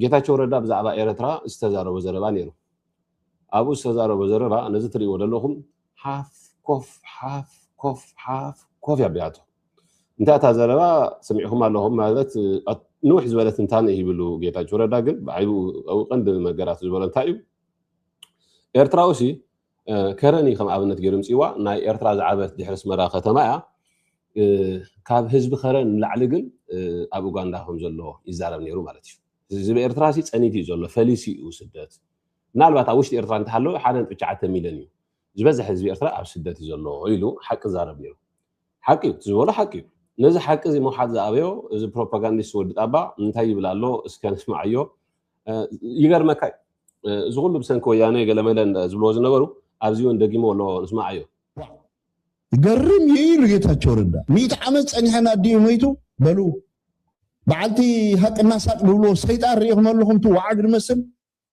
ጌታቸው ረዳ ብዛዕባ ኤረትራ ዝተዛረቦ ዘረባ ነይሩ ኣብኡ ዝተዛረቦ ዘረባ ነዚ ትሪእዎ ዘለኹም ሓፍ ኮፍ ሓፍ ኮፍ ሓፍ ኮፍ ያቢያቶ እንታይ እታ ዘረባ ስሚዕኹም ኣለኹም ማለት ንውሕ ዝበለ ትንታነ ይብሉ ጌታቸው ረዳ ግን ብዓይቡ ቀንዲ ነገራት ዝበሎ እንታይ እዩ ኤርትራዊ ሲ ከረን እዩ ከም ኣብነት ገይሩ ምፅዋ ናይ ኤርትራ ዝዓበት ድሕሪ ኣስመራ ከተማ እያ ካብ ህዝቢ ከረን ንላዕሊ ግን ኣብ ኡጋንዳ ከም ዘሎ ይዛረብ ነይሩ ማለት እዩ ህዝቢ ኤርትራ ሲ ፀኒት እዩ ዘሎ ፈሊሲ እዩ ስደት ምናልባት ኣብ ውሽጢ ኤርትራ እንተሃለወ ሓደ ነጥቢ ትሽዓተ ሚሊዮን እዩ ዝበዝሕ ህዝቢ ኤርትራ ኣብ ስደት እዩ ዘሎ ኢሉ ሓቂ ዛረብ ነይሩ ሓቂ እዩ እቲ ዝበሎ ሓቂ እዩ ነዚ ሓቂ እዚ ምውሓጥ ዝኣበዮ እዚ ፕሮፓጋንዲስት ወዲ ጣባ እንታይ ይብል ኣሎ እስከ ንስምዓዮ ይገርመካ እዩ እዚ ኩሉ ብሰንኪ ወያነ ገለመለ ዝብልዎ ዝነበሩ ኣብዚ እውን ደጊምዎ ኣሎ ንስምዓዮ ይገርም እዩ ኢሉ ጌታቸው ረዳ ሚእቲ ዓመት ጸኒሐና ኣዲኡ መይቱ በሉ በዓልቲ ሃቅና ሳቅ ድብልዎ ሰይጣን ርኢኹም ኣለኹም እቲ ወዓግ ድመስል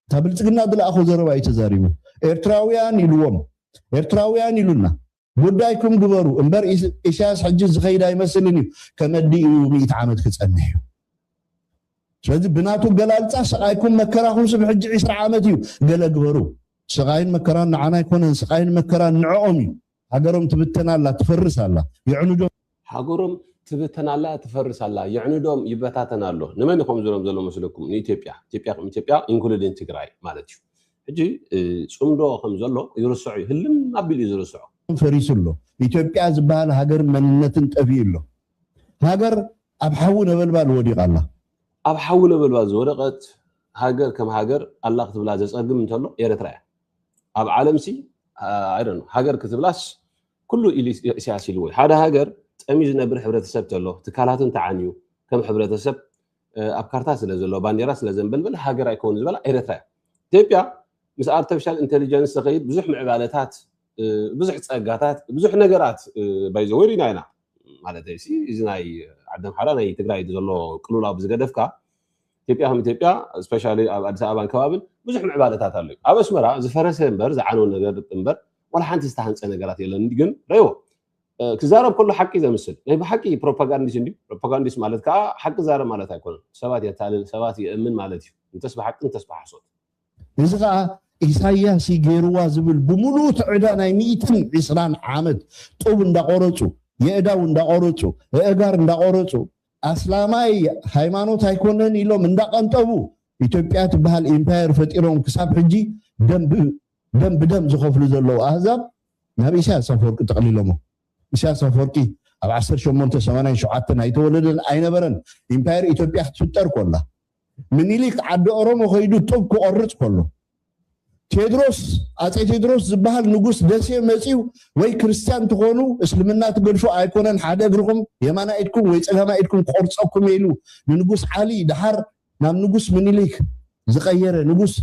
እታ ብልጽግና ድለኣኾ ዘረባ እዩ ተዛሪቡ ኤርትራውያን ኢልዎም ኤርትራውያን ኢሉና ጉዳይኩም ግበሩ እምበር ኢሳያስ ሕጂ ዝኸይድ ኣይመስልን እዩ ከመዲ እዩ ሚእቲ ዓመት ክጸንሕ እዩ ስለዚ ብናቱ ኣገላልጻ ስቓይኩም መከራኹም ስብ ሕጂ ዒስራ ዓመት እዩ ገለ ግበሩ ስቓይን መከራን ንዓና ኣይኮነን ስቓይን መከራን ንዕኦም እዩ ሃገሮም ትብተን ኣላ ትፈርስ ኣላ የዕኑዶም ሃገሮም ትብተን ኣላ ትፈርስ ኣላ የዕንዶም ይበታተን ኣሎ ንመን ይኮም ዝሎም ዘሎ መስለኩም ንኢትዮጵያ ኢትዮጵያ ከም ኢትዮጵያ ኢንክሉዲን ትግራይ ማለት እዩ ሕጂ ጽምዶ ከም ዘሎ ይርስዑ እዩ ህልም ኣቢሉ እዩ ዝርስዑ ፈሪሱ ኣሎ ኢትዮጵያ ዝበሃል ሃገርን መንነትን ጠፊኡ ኣሎ ሃገር ኣብ ሓዊ ነበልባል ወዲቃ ኣላ ኣብ ሓዊ ነበልባል ዝወደቀት ሃገር ከም ሃገር ኣላ ክትብላ ዘጸግም እንተሎ ኤርትራ እያ ኣብ ዓለምሲ ሃገር ክትብላስ ኩሉ ኢሉ ኢሳያስ ኢልዎ እዩ። ሓደ ሃገር ጸምዩ ዝነብር ሕብረተሰብ ተሎ፣ ትካላት እንተዓንዩ፣ ከም ሕብረተሰብ ኣብ ካርታ ስለ ዘሎ፣ ባንዴራ ስለ ዘንበልብል ሃገር ኣይከውን ዝበላ ኤረትራ እያ። ኢትዮጵያ ምስ ኣርተፊሻል ኢንተሊጀንስ ተኸይድ ብዙሕ ምዕባለታት ብዙሕ ጸጋታት ብዙሕ ነገራት ባይ ዘ ወይ ሪና ኢና ማለተይ ሲ እዚ ናይ ዓዲ ኣምሓራ ናይ ትግራይ ዘሎ ቅልውላው ብዝገደፍካ ኢትዮጵያ ከም ኢትዮጵያ ስፔሻሊ ኣብ ኣዲስ ኣበባን ከባብን ብዙሕ ምዕባለታት ኣሎ ኣብ ኣስመራ ዝፈረሰ እምበር ዝዓነው ነገር እምበር ዋላ ሓንቲ ዝተሃንጸ ነገራት የለን ግን ረይዎ ክዛረብ ከሎ ሓቂ ዘምስል ናይ ብሓቂ ፕሮፓጋንዲስ እንዲ ፕሮፓጋንዲስ ማለት ከዓ ሓቂ ዛረብ ማለት ኣይኮነን ሰባት የታልል ሰባት የእምን ማለት እዩ እንተስ ብሓቂ እንተስ ብሓሶት እዚ ከዓ ኢሳያስ ገይርዋ ዝብል ብምሉኡ ትዕዳ ናይ ሚእትን ዒስራን ዓመት ጡብ እንዳቆረፁ የእዳው እንዳቆረፁ እእጋር እንዳቆረፁ ኣስላማይ ሃይማኖት ኣይኮነን ኢሎም እንዳቀንጠቡ ኢትዮጵያ ትበሃል ኢምፓየር ፈጢሮም ክሳብ ሕጂ ደንብ ደም ብደም ዝኸፍሉ ዘለዉ ኣህዛብ ናብ ኢሳያስ ኣፈወርቂ ጠቕሊሎሞ። ኢሳያስ ኣፈወርቂ ኣብ ዓሰርተ ሸሞንተ ሰማንያን ሸውዓተን ኣይተወለደን ኣይነበረን ኢምፓየር ኢትዮጵያ ክትፍጠር ኮላ። ምኒሊክ ዓዲ ኦሮሞ ከይዱ ጡብ ክቖርጽ ኮሎ። ቴድሮስ ኣጼ ቴድሮስ ዝበሃል ንጉስ ደሴ መጺኡ ወይ ክርስትያን ትኾኑ እስልምና ትገድፉ ኣይኮነን ሓደ እግርኹም የማናይ ኢድኩም ወይ ጸጋማይ ኢድኩም ክቖርጸኩም እየ ኢሉ ንንጉስ ዓሊ ደሓር ናብ ንጉስ ምኒሊክ ዝቀየረ ንጉስ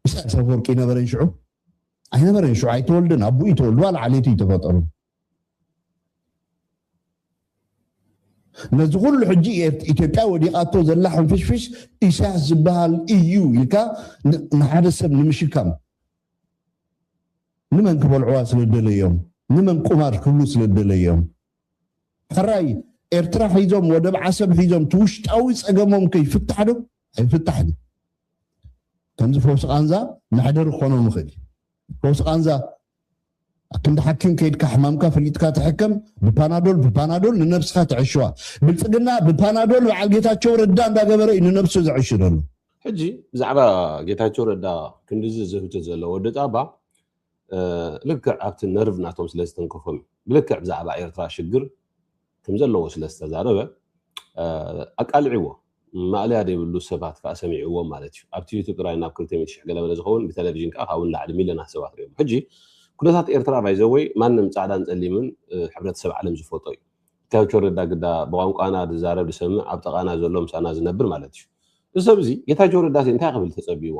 ኢሳያስ ኣፈወርቂ ነበረን ሽዑ? ኣይነበረን ሽዑ ኣይተወልደን ኣቡኡ እዩ ተወልዱ ዋላ ዓሌቱ እዩ ተፈጠሩ ነዚ ኩሉ ሕጂ ኢትዮጵያ ወዲቃቶ ዘላ ሕንፍሽፍሽ ኢሳያስ ዝበሃል እዩ ኢልካ ንሓደ ሰብ ንምሽካም ንመን ክበልዕዋ ስለ ደለዮም ንመን ቁማር ክብሉ ስለ ደለዮም ሕራይ ኤርትራ ሒዞም ወደብ ዓሰብ ሒዞም እቲ ውሽጣዊ ጸገሞም ከይፍታሕ ዶ ኣይፍታሕን እዩ ከምዚ ፈውሲ ቃንዛ መሕደሪ ክኾኖም ይኽእል እዩ ፈውሲ ቃንዛ ክንዲ ሓኪም ከይድካ ሕማምካ ፈሊጥካ ትሕከም ብፓናዶል ብፓናዶል ንነብስካ ትዕሽዋ ብልፅግና ብፓናዶል በዓል ጌታቸው ረዳ እንዳገበረ እዩ ንነብሱ ዝዕሽ ዘሎ ሕጂ ብዛዕባ ጌታቸው ረዳ ክንዲዚ ዝህብቲ ዘሎ ወዲ ጣባ ልክዕ ኣብቲ ነርቭ ናቶም ስለ ዝተንከፎም እዩ። ብልክዕ ብዛዕባ ኤርትራ ሽግር ከም ዘለዎ ስለ ዝተዛረበ ኣቃሊዕዎ። ማእለያ ዘይብሉ ሰባት ከኣ ሰሚዕዎም ማለት እዩ። ኣብቲ ዩቱብ ጥራይ ናብ ክልተ ሚእቲ ሽሕ ገለመለ ዝኸውን ብተለቪዥን ከኣ ካብኡ ንላዕሊ ሚልዮናት ሰባት ርእዮሞ። ሕጂ ኩነታት ኤርትራ ባይ ዘ ወይ ማንም ጻዕዳን ጸሊምን ሕብረተሰብ ዓለም ዝፈልጦ እዩ። ጌታቸው ረዳ ግዳ ብቋንቋና ዝዛረብ ዝሰምዕ ኣብ ጠቓና ዘሎ ምሳና ዝነብር ማለት እዩ። እዚ ሰብ እዚ ጌታቸው ረዳሲ እንታይ ክብል ተጸብይዎ?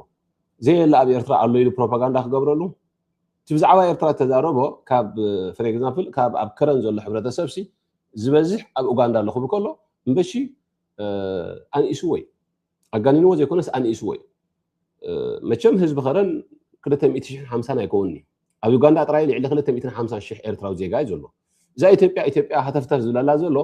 ዘየለ ኣብ ኤርትራ ኣሎ ኢሉ ፕሮፓጋንዳ ክገብረሉ እቲ ብዛዕባ ኤርትራ ዝተዛረቦ ካብ ፍር ኤግዛምፕል ካብ ኣብ ከረን ዘሎ ሕብረተሰብ ሲ ዝበዝሕ ኣብ ኡጋንዳ ኣሎ ክብል ከሎ እምበሺ ኣንኢስዎ እዩ ኣጋኒንዎ ዘይኮነስ ኣንኢስዎ እዩ መቸም ህዝቢ ከረን ክልተ ሚእቲ ሽሕን ሓምሳን ኣይከውን እዩ ኣብ ዩጋንዳ ጥራይ ልዕሊ ክልተ ሚእትን ሓምሳን ሽሕ ኤርትራዊ ዜጋ እዩ ዘሎ እዛ ኢትዮጵያ ኢትዮጵያ ሃተፍተፍ ዝብላላ ዘሎ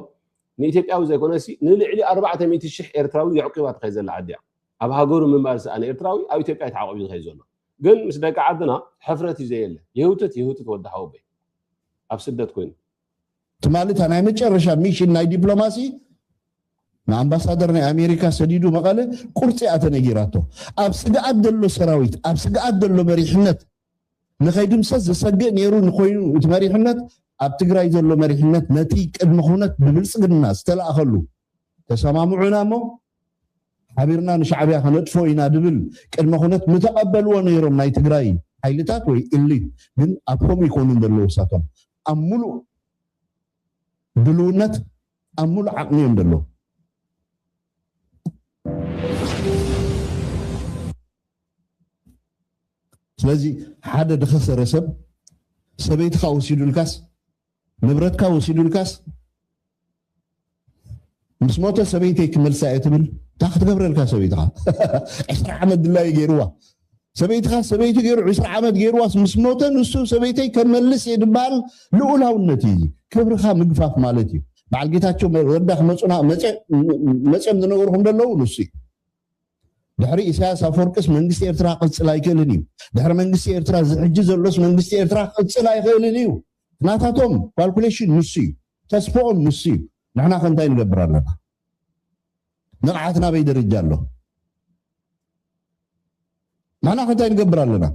ንኢትዮጵያዊ ዘይኮነሲ ንልዕሊ ኣርባዕተ ሚእቲ ሽሕ ኤርትራዊ የዕቂባ ትኸይ ዘላ ዓዲ እያ ኣብ ሃገሩ ምንባር ዝሰኣነ ኤርትራዊ ኣብ ኢትዮጵያ እዩ ተዓቆቢ ዝከይድ ዘሎ ግን ምስ ደቂ ዓድና ሕፍረት እዩ ዘየለ ይህውትት ይህውትት ወዲ ሓወበይ ኣብ ስደት ኮይኑ። ትማሊ እታ ናይ መጨረሻ ሚሽን ናይ ዲፕሎማሲ ንኣምባሳደር ናይ ኣሜሪካ ሰዲዱ መቐለ ቁርፂ እያ ተነጊራቶ ኣብ ስግኣት ዘሎ ሰራዊት ኣብ ስግኣት ዘሎ መሪሕነት ንኸይድምሰስ ዘሰግእ ነይሩ ንኮይኑ እቲ መሪሕነት ኣብ ትግራይ ዘሎ መሪሕነት ነቲ ቅድመ ኩነት ብብልፅግና ዝተላእኸሉ ተሰማምዑና እሞ ሓቢርና ንሻዕብያ ከነጥፍኦ ኢና ድብል ቅድመ ኩነት ምተቐበልዎ ነይሮም ናይ ትግራይ ሓይልታት ወይ ኢሊት ግን ኣብሆም ይኮኑን ደለዉ እሳቶም ኣብ ሙሉእ ድልውነት ኣብ ሙሉእ ዓቕሚ እዮም ደለዉ ስለዚ ሓደ ድኸሰረ ሰብ ሰበይትኻ ወሲዱልካስ ንብረትካ ወሲዱልካስ ምስ ሞተ ሰበይተይ ክመልሳ እየ ትብል እንታይ ክትገብረልካ ሰበይትኻ ዕስራ ዓመት ድላዩ ገይርዋ ሰበይትኻ ሰበይቱ ገይሩ ዕስራ ዓመት ገይርዋስ ምስ ሞተ ንሱ ሰበይተይ ከመልስ እየ ድበሃል ልኡላውነት እዩ እዚ ክብርኻ ምግፋፍ ማለት እዩ በዓል ጌታቸው ረዳ ክመፁና መፅኦም ዝነገርኩም ዘለዉ ንሱ እዩ ድሕሪ ኢሳያስ ኣፈወርቅስ መንግስቲ ኤርትራ ክቅፅል ኣይክእልን እዩ ድሕሪ መንግስቲ ኤርትራ ዝሕጂ ዘሎስ መንግስቲ ኤርትራ ክቅፅል ኣይክእልን እዩ ናታቶም ኳልኩሌሽን ንሱ እዩ ተስፎኦም ንሱ እዩ ንሕና ከ እንታይ ንገብር ኣለና ንቕሓትና ኣበይ ደረጃ ኣሎ ንሕና ከ እንታይ ንገብር ኣለና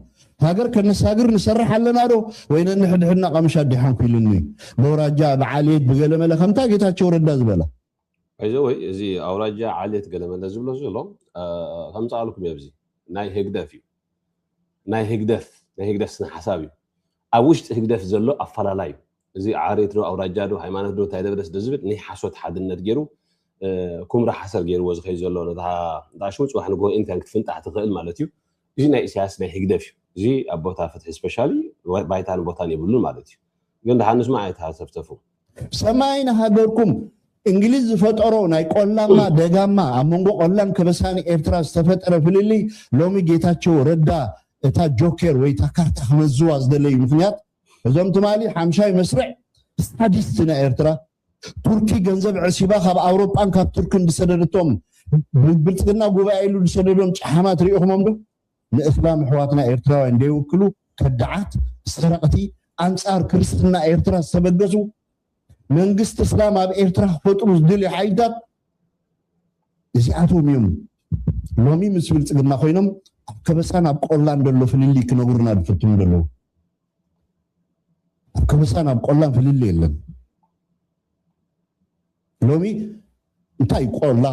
ሃገር ከነሳግር ንሰርሕ ኣለና ዶ ወይ ነንሕድሕድና ቀምሻ ዲሓንኩ ኢሉኒ በውራጃ ብዓልየት ብገለመለ ከምታ ጌታቸው ረዳ ዝበላ እዚ ወይ እዚ ኣውራጃ ዓሌት ገለመለ ዝብሎ ዘሎ ከምፃኣልኩም እየ ብዚ ናይ ህግደፍ እዩ ናይ ህግደፍ ናይ ህግደፍ ስነ ሓሳብ እዩ ኣብ ውሽጢ ህግደፍ ዘሎ ኣፋላላይ ዩ እዚ ዓሬት ዶ ኣውራጃ ዶ ሃይማኖት ዶ ታይ ደብረስ ዶ ዝብል ንይ ሓሶት ሓድነት ጌሩ ኩምራ ሓሰር ጌርዎ ዝከይድ ዘሎ ነታ ዳሽሙ ጽባሕ ንግሆ ኤኒታይም ክትፍንጣሕ ትክእል ማለት ዩ እዚ ናይ ኢሳያስ ናይ ህግደፍ ዩ እዚ ኣብ ቦታ ፍትሒ ስፐሻሊ ባይታን ቦታን የብሉን ማለት ዩ ግን ድሓን ንስማዕ ኣይትሃተፍተፉ። ሰማይ ንሃገርኩም እንግሊዝ ዝፈጠሮ ናይ ቆላማ ደጋማ ኣብ መንጎ ቆላን ከበሳን ኤርትራ ዝተፈጠረ ፍልልይ ሎሚ ጌታቸው ረዳ እታ ጆኬር ወይ እታ ካርታ ክመዝዋ ዝደለዩ ምክንያት እዞም ትማሊ ሓምሻይ መስርዕ ሳዲስት ናይ ኤርትራ ቱርኪ ገንዘብ ዕሲባ ካብ ኣውሮጳን ካብ ቱርክን ዝሰደደቶም ብልፅግና ጉባኤ ኢሉ ዝሰደዶም ጨሓማት ርኢኹሞም ዶ ንእስላም ኣሕዋትና ኤርትራውያን ደይውክሉ ከዳዓት ሰረቅቲ ኣንጻር ክርስትና ኤርትራ ዝተበገሱ መንግስቲ እስላም ኣብ ኤርትራ ክፈጥሩ ዝደልዩ ሓይልታት እዚኣቶም እዮም ሎሚ ምስ ብልጽግና ኮይኖም ኣብ ከበሳን ኣብ ቆላን ዘሎ ፍልልይ ክነብሩና ዝፍትኑ ዘለዉ ኣብ ከበሳን ኣብ ቆላን ፍልልይ የለን ሎሚ እንታይ እዩ ቆላ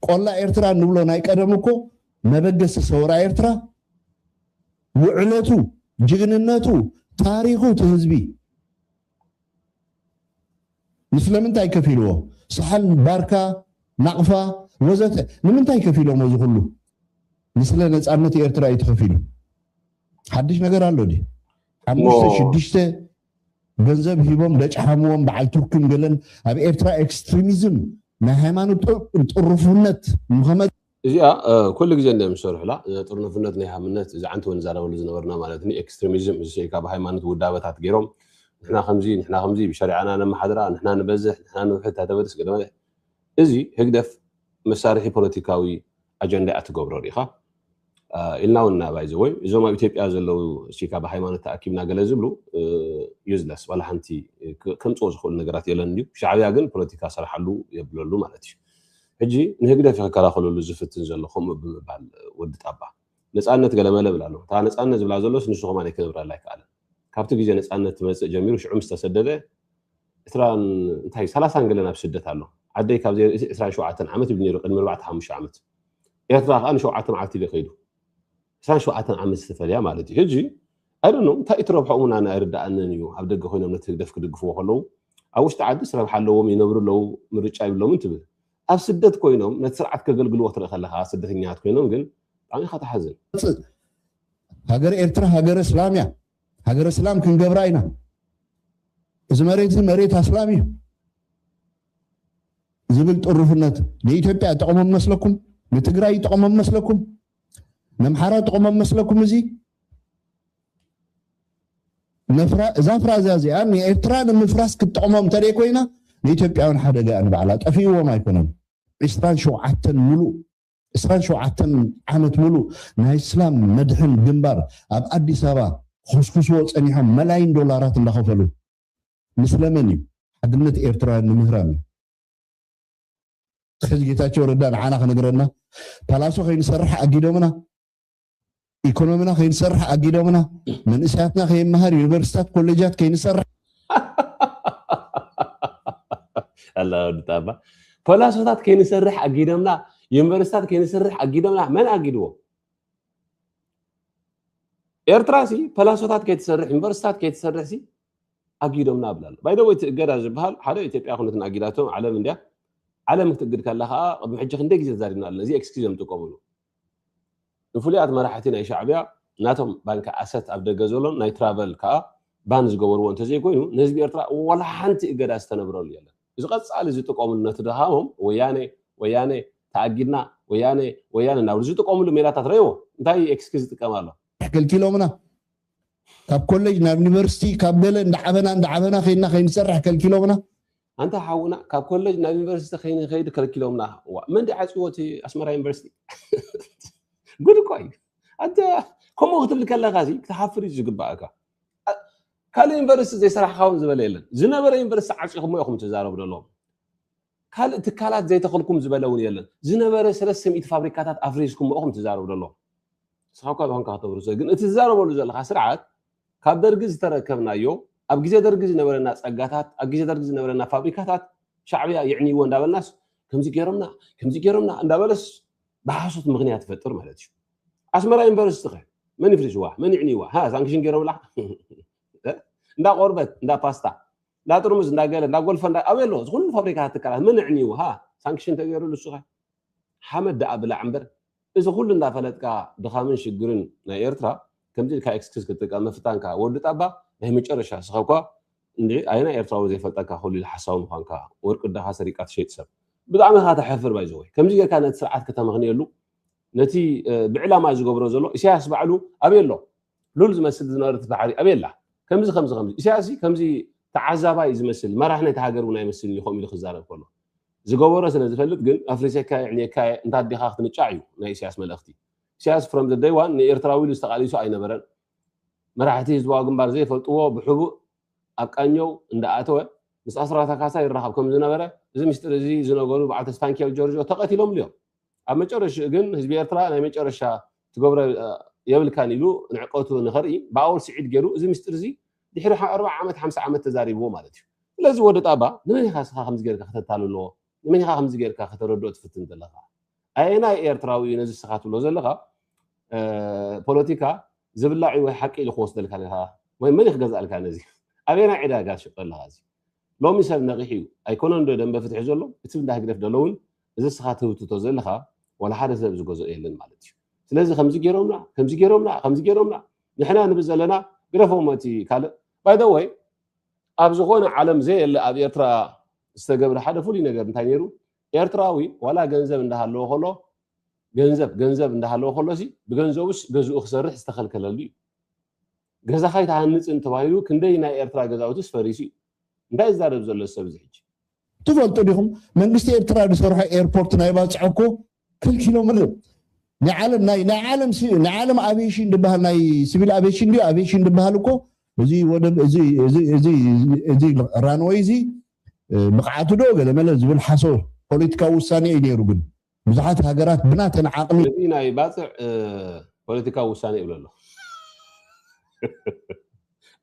ቆላ ኤርትራ እንብሎ ናይ ቀደም እኮ መበገሲ ሰውራ ኤርትራ ውዕለቱ ጅግንነቱ ታሪኹ እቲ ህዝቢ ምስለምንታይ ከፊልዎ ሰሓል ባርካ ናቕፋ ወዘተ ንምንታይ ከፊሎሞ እዚ ኩሉ ንስለ ነፃነት ኤርትራ እዩ ተኸፊሉ ሓድሽ ነገር ኣሎ ዲ ሓሙሽተ ሽዱሽተ ገንዘብ ሂቦም ደጭሓምዎም በዓል ቱርክን ገለን ኣብ ኤርትራ ኤክስትሪሚዝም ናይ ሃይማኖት ጥሩፍነት ንኸመ እዚኣ ኩሉ ግዜ እንዲዮም ዝሰርሑላ ጥርኑፍነት ናይ ሃምነት እዚ ዓንተ ወን ዛረበሉ ዝነበርና ማለት ኒ ኤክስትሪሚዝም እዚ ስዒ ካብ ሃይማኖት ውዳበታት ገይሮም ንሕና ከምዚ ንሕና ከምዚ ብሸሪዓና ነመሓድራ ንሕና ንበዝሕ ንሕና ንውሕድ ታተበርስ ገለ እዚ ህግደፍ መሳርሒ ፖለቲካዊ ኣጀንዳ እያ ትገብሮ ሪኢኻ ኢልና እውን እና ባይዘወይ እዞም ኣብ ኢትዮጵያ ዘለው እስካ ብሃይማኖት ተኣኪብና ገለ ዝብሉ ዩዝለስ ዋላ ሓንቲ ከምፅኦ ዝኽእሉ ነገራት የለን እዩ ሻዕብያ ግን ፖለቲካ ስራሓሉ የብለሉ ማለት እዩ ሕጂ ንህግደፍ ክከላኸለሉ ዝፍትን ዘሎ ከምኡ ብምባል ወዲ ጣባ ነፃነት ገለመለ ብላ ኣሎ እታ ነፃነት ዝብላ ዘሎስ ንሱ ከማን ክነብረላ ኣይከኣለን ካብቲ ግዜ ነጻነት ትመጽእ ጀሚሩ ሽዑ ምስ ተሰደደ ዕስራን እንታይ ሰላሳን ገለን ኣብ ስደት ኣሎ። ዓደይ ካብ ዘይርእሲ ዕስራን ሸውዓተን ዓመት ይብል ነይሩ ቅድሚ ኣርባዕተ ሓሙሽተ ዓመት። ኤርትራ ከኣ ንሸውዓተ መዓልቲ ኢሉ ከይዱ። ዕስራን ሸውዓተን ዓመት ዝተፈልያ ማለት እዩ። ሕጂ ኣይ ዶንት ኖው እንታይ እዩ እቲ ረብሕኦም እውን ኣነ ኣይርድኣንን እዩ። ኣብ ደገ ኮይኖም ነቲ ህግደፍ ክድግፍዎ ከለዉ ኣብ ውሽጢ ዓድስ ረብሓ ኣለዎም ይነብሩ ኣለዉ ምርጫ ይብሎምን ትብል። ኣብ ስደት ኮይኖም ነቲ ስርዓት ከገልግልዎ ክትርኢ ከለኻ ስደተኛታት ኮይኖም ግን ብጣዕሚ ኢኻ ትሓዝን። ሃገረ ኤርትራ ሃገረ ስላም እያ ሃገረ ስላም ክንገብራ ኢና እዚ መሬት እዚ መሬት ኣስላም እዩ ዝብል ጥሩፍነት ንኢትዮጵያ ጠቕሞም መስለኩም ንትግራይ ጠቕሞም መስለኩም ነምሓራ ጠቕሞም መስለኩም እዚ እዛ ፍራዛ እዚኣ ንኤርትራ ንምፍራስ ክትጠቕሞም እንተደይ ኮይና ንኢትዮጵያውን ሓደጋ እያ ንባዕላ ጠፊእዎም ኣይኮነን ዕስራን ሸውዓተን ሙሉእ ዕስራን ሸውዓተን ዓመት ሙሉእ ናይ እስላም መድሕን ግንባር ኣብ ኣዲስ ኣበባ ክኹስኩስዎ ፀኒሖም መላይን ዶላራት እንዳኸፈሉ ንስለመን እዩ? ሓድነት ኤርትራውያን ንምህራም እዩ። ሕዚ ጌታቸው ረዳ ንዓና ክነግረና ፓላሶ ከይንሰርሕ ኣጊዶምና? ኢኮኖሚና ከይንሰርሕ ኣጊዶምና፣ መንእሰያትና ከይመሃር ዩኒቨርሲታት ኮሌጃት ከይንሰርሕ ኣላወድጣባ ፖላሶታት ከይንሰርሕ ኣጊዶምና ዩኒቨርሲታት ከይንሰርሕ ኣጊዶምና መን ኣጊድዎ ኤርትራ ሲ ፐላሶታት ከይትሰርሕ ዩኒቨርሲታት ከይትሰርሕ ሲ ኣጊዶምና ብላ ኣሎ ባይደወይ እቲ እገዳ ዝበሃል ሓደ ኢትዮጵያ ኩነትን ኣጊዳቶም ዓለም እንድያ ዓለም ክትእግድ ከላ ከዓ ቅድሚ ሕጂ ክንደይ ግዜ ተዛሪብና ኣለና እዚ ኤክስኪዝ እዮም ዝጥቀምሉ ንፍሉያት መራሕቲ ናይ ሻዕብያ ናቶም ባንኪ ኣሰት ኣብ ደገ ዘሎን ናይ ትራቨል ከኣ ባን ዝገበርዎ እንተዘይኮይኑ ንህዝቢ ኤርትራ ወላ ሓንቲ እገዳ ዝተነብረሉ የለን። እዚ ቀጻሊ ዝጥቀምሉ ነቲ ድኻሞም ወያኔ ወያኔ ተኣጊድና ወያኔ ወያኔ እናበሉ ዝጥቀምሉ ሜላታት ረእይዎ እንታይ ኤክስኪዝ ይጥቀም ኣሎ። ከልኪሎምና ካብ ኮለጅ ናብ ዩኒቨርሲቲ ካብ ገለ እንዳዓበና እንዳዓበና ከይድና ከይንሰርሕ ከልኪሎምና ኣንታ ሓውና ካብ ኮለጅ ናብ ዩኒቨርሲቲ ከይንከይድ ከልኪሎምና እዋ መን ዲ ዓፅዎ እቲ ኣስመራ ዩኒቨርሲቲ ጉድ እኮ እዩ ኣንተ ከምኡ ክትብል ከለካ እዚ ክትሓፍር እዩ ዝግባእካ ካልእ ዩኒቨርሲቲ ዘይሰራሕካውን ዝበለ የለን ዝነበረ ዩኒቨርሲቲ ዓፂኹሞ ኢኹም ትዛረቡ ዘለዎም ካልእ ትካላት ዘይተኽልኩም ዝበለ እውን የለን ዝነበረ ሰለስተ ሚእቲ ፋብሪካታት ኣፍሪስኩሞ ኢኹም ትዛረቡ ዘለዎም ንስኻ እኳ ዝኾንካ ከተብርሶ ግን እቲ ትዛረበሉ ዘለካ ስርዓት ካብ ደርጊ ዝተረከብናዮ ኣብ ግዜ ደርጊ ዝነበረና ጸጋታት ኣብ ግዜ ደርጊ ዝነበረና ፋብሪካታት ሻዕብያ ይዕንይዎ እንዳበልናስ ከምዚ ገይሮምና ከምዚ ገይሮምና እንዳበለስ ብሓሶት ምክንያት ይፈጥር ማለት እዩ ኣስመራ ዩኒቨርሲቲ ከ መን ይፍሪስዋ መን ይዕንይዋ ሃ ሳንክሽን ገይሮምላ እንዳ ቆርበት እንዳ ፓስታ እንዳ ጥርሙዝ እንዳ ገለ እንዳ ጎልፈ እንዳ ኣበይ ኣሎ ዝኩሉ ፋብሪካታት ትካላት መን ዕንይዎ ሃ ሳንክሽን ተገይሩ ንሱኸ ሓመድ ደኣ ብላዕ እምበር እዚ ኩሉ እንዳፈለጥካ ድኻምን ሽግርን ናይ ኤርትራ ከምዚ ኢልካ ኤክስክዝ ክትጥቀም ምፍታንካ ወዲ ጣባ ናይ መጨረሻ ንስኻኳ እንድዒ ኣየናይ ኤርትራዊ ዘይፈልጠካ ኩሉ ኢሉ ሓሳዊ ምዃንካ ወርቂ ኣደኻ ሰሪቅካ ትሸይጥ ሰብ ብጣዕሚ ኢኻ ተሕፍር ባይ ዘወይ ከምዚ ጌርካ ነቲ ስርዓት ከተመኽንየሉ ነቲ ብዕላማ ዝገብሮ ዘሎ ኢሳያስ ባዕሉ ኣበይ ኣሎ ሉል ዝመስል ዝነበረት ባሕሪ ኣበይ ኣላ? ከምዚ ከምዚ ከምዚ ኢሳያስ ከምዚ ተዓዛባይ ዝመስል መራሒ ናይታ ሃገር እውን ኣይመስልን እዩ ከምኡ ኢሉ ክዛረብ ከሎ ዝገበሮ ስለ ዝፈልጥ ግን ኣፍሪሰካ የዕንየካ እየ እንተ ኣዴኻ ክትንጫዕ እዩ ናይ ኢሳያስ መልእኽቲ ኢሳያስ ፍሮም ዘ ደይ ዋን ንኤርትራዊ ኢሉ ዝተቃሊሱ ኣይነበረን መራሕቲ ህዝባዊ ግንባር ዘይፈልጥዎ ብሕቡእ ኣብ ቃኘው እንዳኣተወ ምስ ኣስራታ ካሳ ይራኸብ ከም ዝነበረ እዚ ምስጢር እዚ ዝነገሩ በዓል ተስፋንኪኤል ጆርጆ ተቐቲሎምሉ እዮም ኣብ መጨረሽኡ ግን ህዝቢ ኤርትራ ናይ መጨረሻ ትገብሮ የብልካን ኢሉ ንዕቀቱ ንኸርኢ ብኣወል ስዒድ ገይሩ እዚ ምስጢር እዚ ድሕሪ ኣርብዓ ዓመት ሓምሳ ዓመት ተዛሪብዎ ማለት እዩ። ስለዚ ወዲ ጣባ ንመን ኢኻ እስኻ ከምዚ ገይርካ ከተታልሎ ንመን ኢኻ ከምዚ ገይርካ ከተረድኦ ትፍትን ዘለኻ ኣየናይ ኤርትራዊ እዩ ነዚ እስኻ ትብሎ ዘለኻ ፖለቲካ ዝብላዕ ወይ ሓቂ ኢሉ ክወስደልካ ወይ መን ክገዝኣልካ ነዚ ኣበየናይ ዕዳጋ ትሸጦ ኣለኻ እዚ ሎሚ ሰብ ነቂሑ እዩ ኣይኮነን ዶ ደምበ ፍትሒ ዘሎ እቲ እንዳ ህግደፍ ደሎ ውን እዚ እስኻ ትህውትቶ ዘለኻ ዋላ ሓደ ሰብ ዝገዝኦ የለን ማለት እዩ ስለዚ ከምዚ ጌሮምና ከምዚ ጌሮምና ከምዚ ጌሮምና ንሕና ንብል ዘለና ግደፎሞ እቲ ካልእ ባይ ዘ ወይ ኣብ ዝኾነ ዓለም ዘየለ ኣብ ኤርትራ ዝተገብረ ሓደ ፍሉይ ነገር እንታይ ነይሩ ኤርትራዊ ዋላ ገንዘብ እንዳሃለዎ ከሎ ገንዘብ ገንዘብ እንዳሃለዎ ከሎሲ ብገንዘቡስ ገዝኡ ክሰርሕ ዝተኸልከለሉ እዩ ገዛኻ ኣይትሃንጽን ተባሂሉ ክንደይ ናይ ኤርትራ ገዛውትስ ፈሪሱ እዩ። እንታይ ዝዛረብ ዘሎ እዚ ሰብ እዚ ሕጂ። ትፈልጡ ዲኹም መንግስቲ ኤርትራ ዝሰርሖ ኤርፖርት ናይ ባጽዕ እኮ ከልኪሎምሉ ናይ ዓለም ናይ ናይ ዓለም ናይ ዓለም ኣቪዬሽን ዝበሃል ናይ ሲቪል ኣቪዬሽን ድዩ ኣቪዬሽን ዝበሃል እኮ እዚ ወደብ እዚ እዚ እዚ እዚ ራንወይ እዚ ብቕዓቱ ዶ ገለ መለ ዝብል ሓሶ ፖለቲካዊ ውሳኔ እዩ ነይሩ ግን ብዙሓት ሃገራት ብናተን ዓቕሚ። ነዚ ናይ ባጽዕ ፖለቲካዊ ውሳኔ እብሎ ኣለኹ።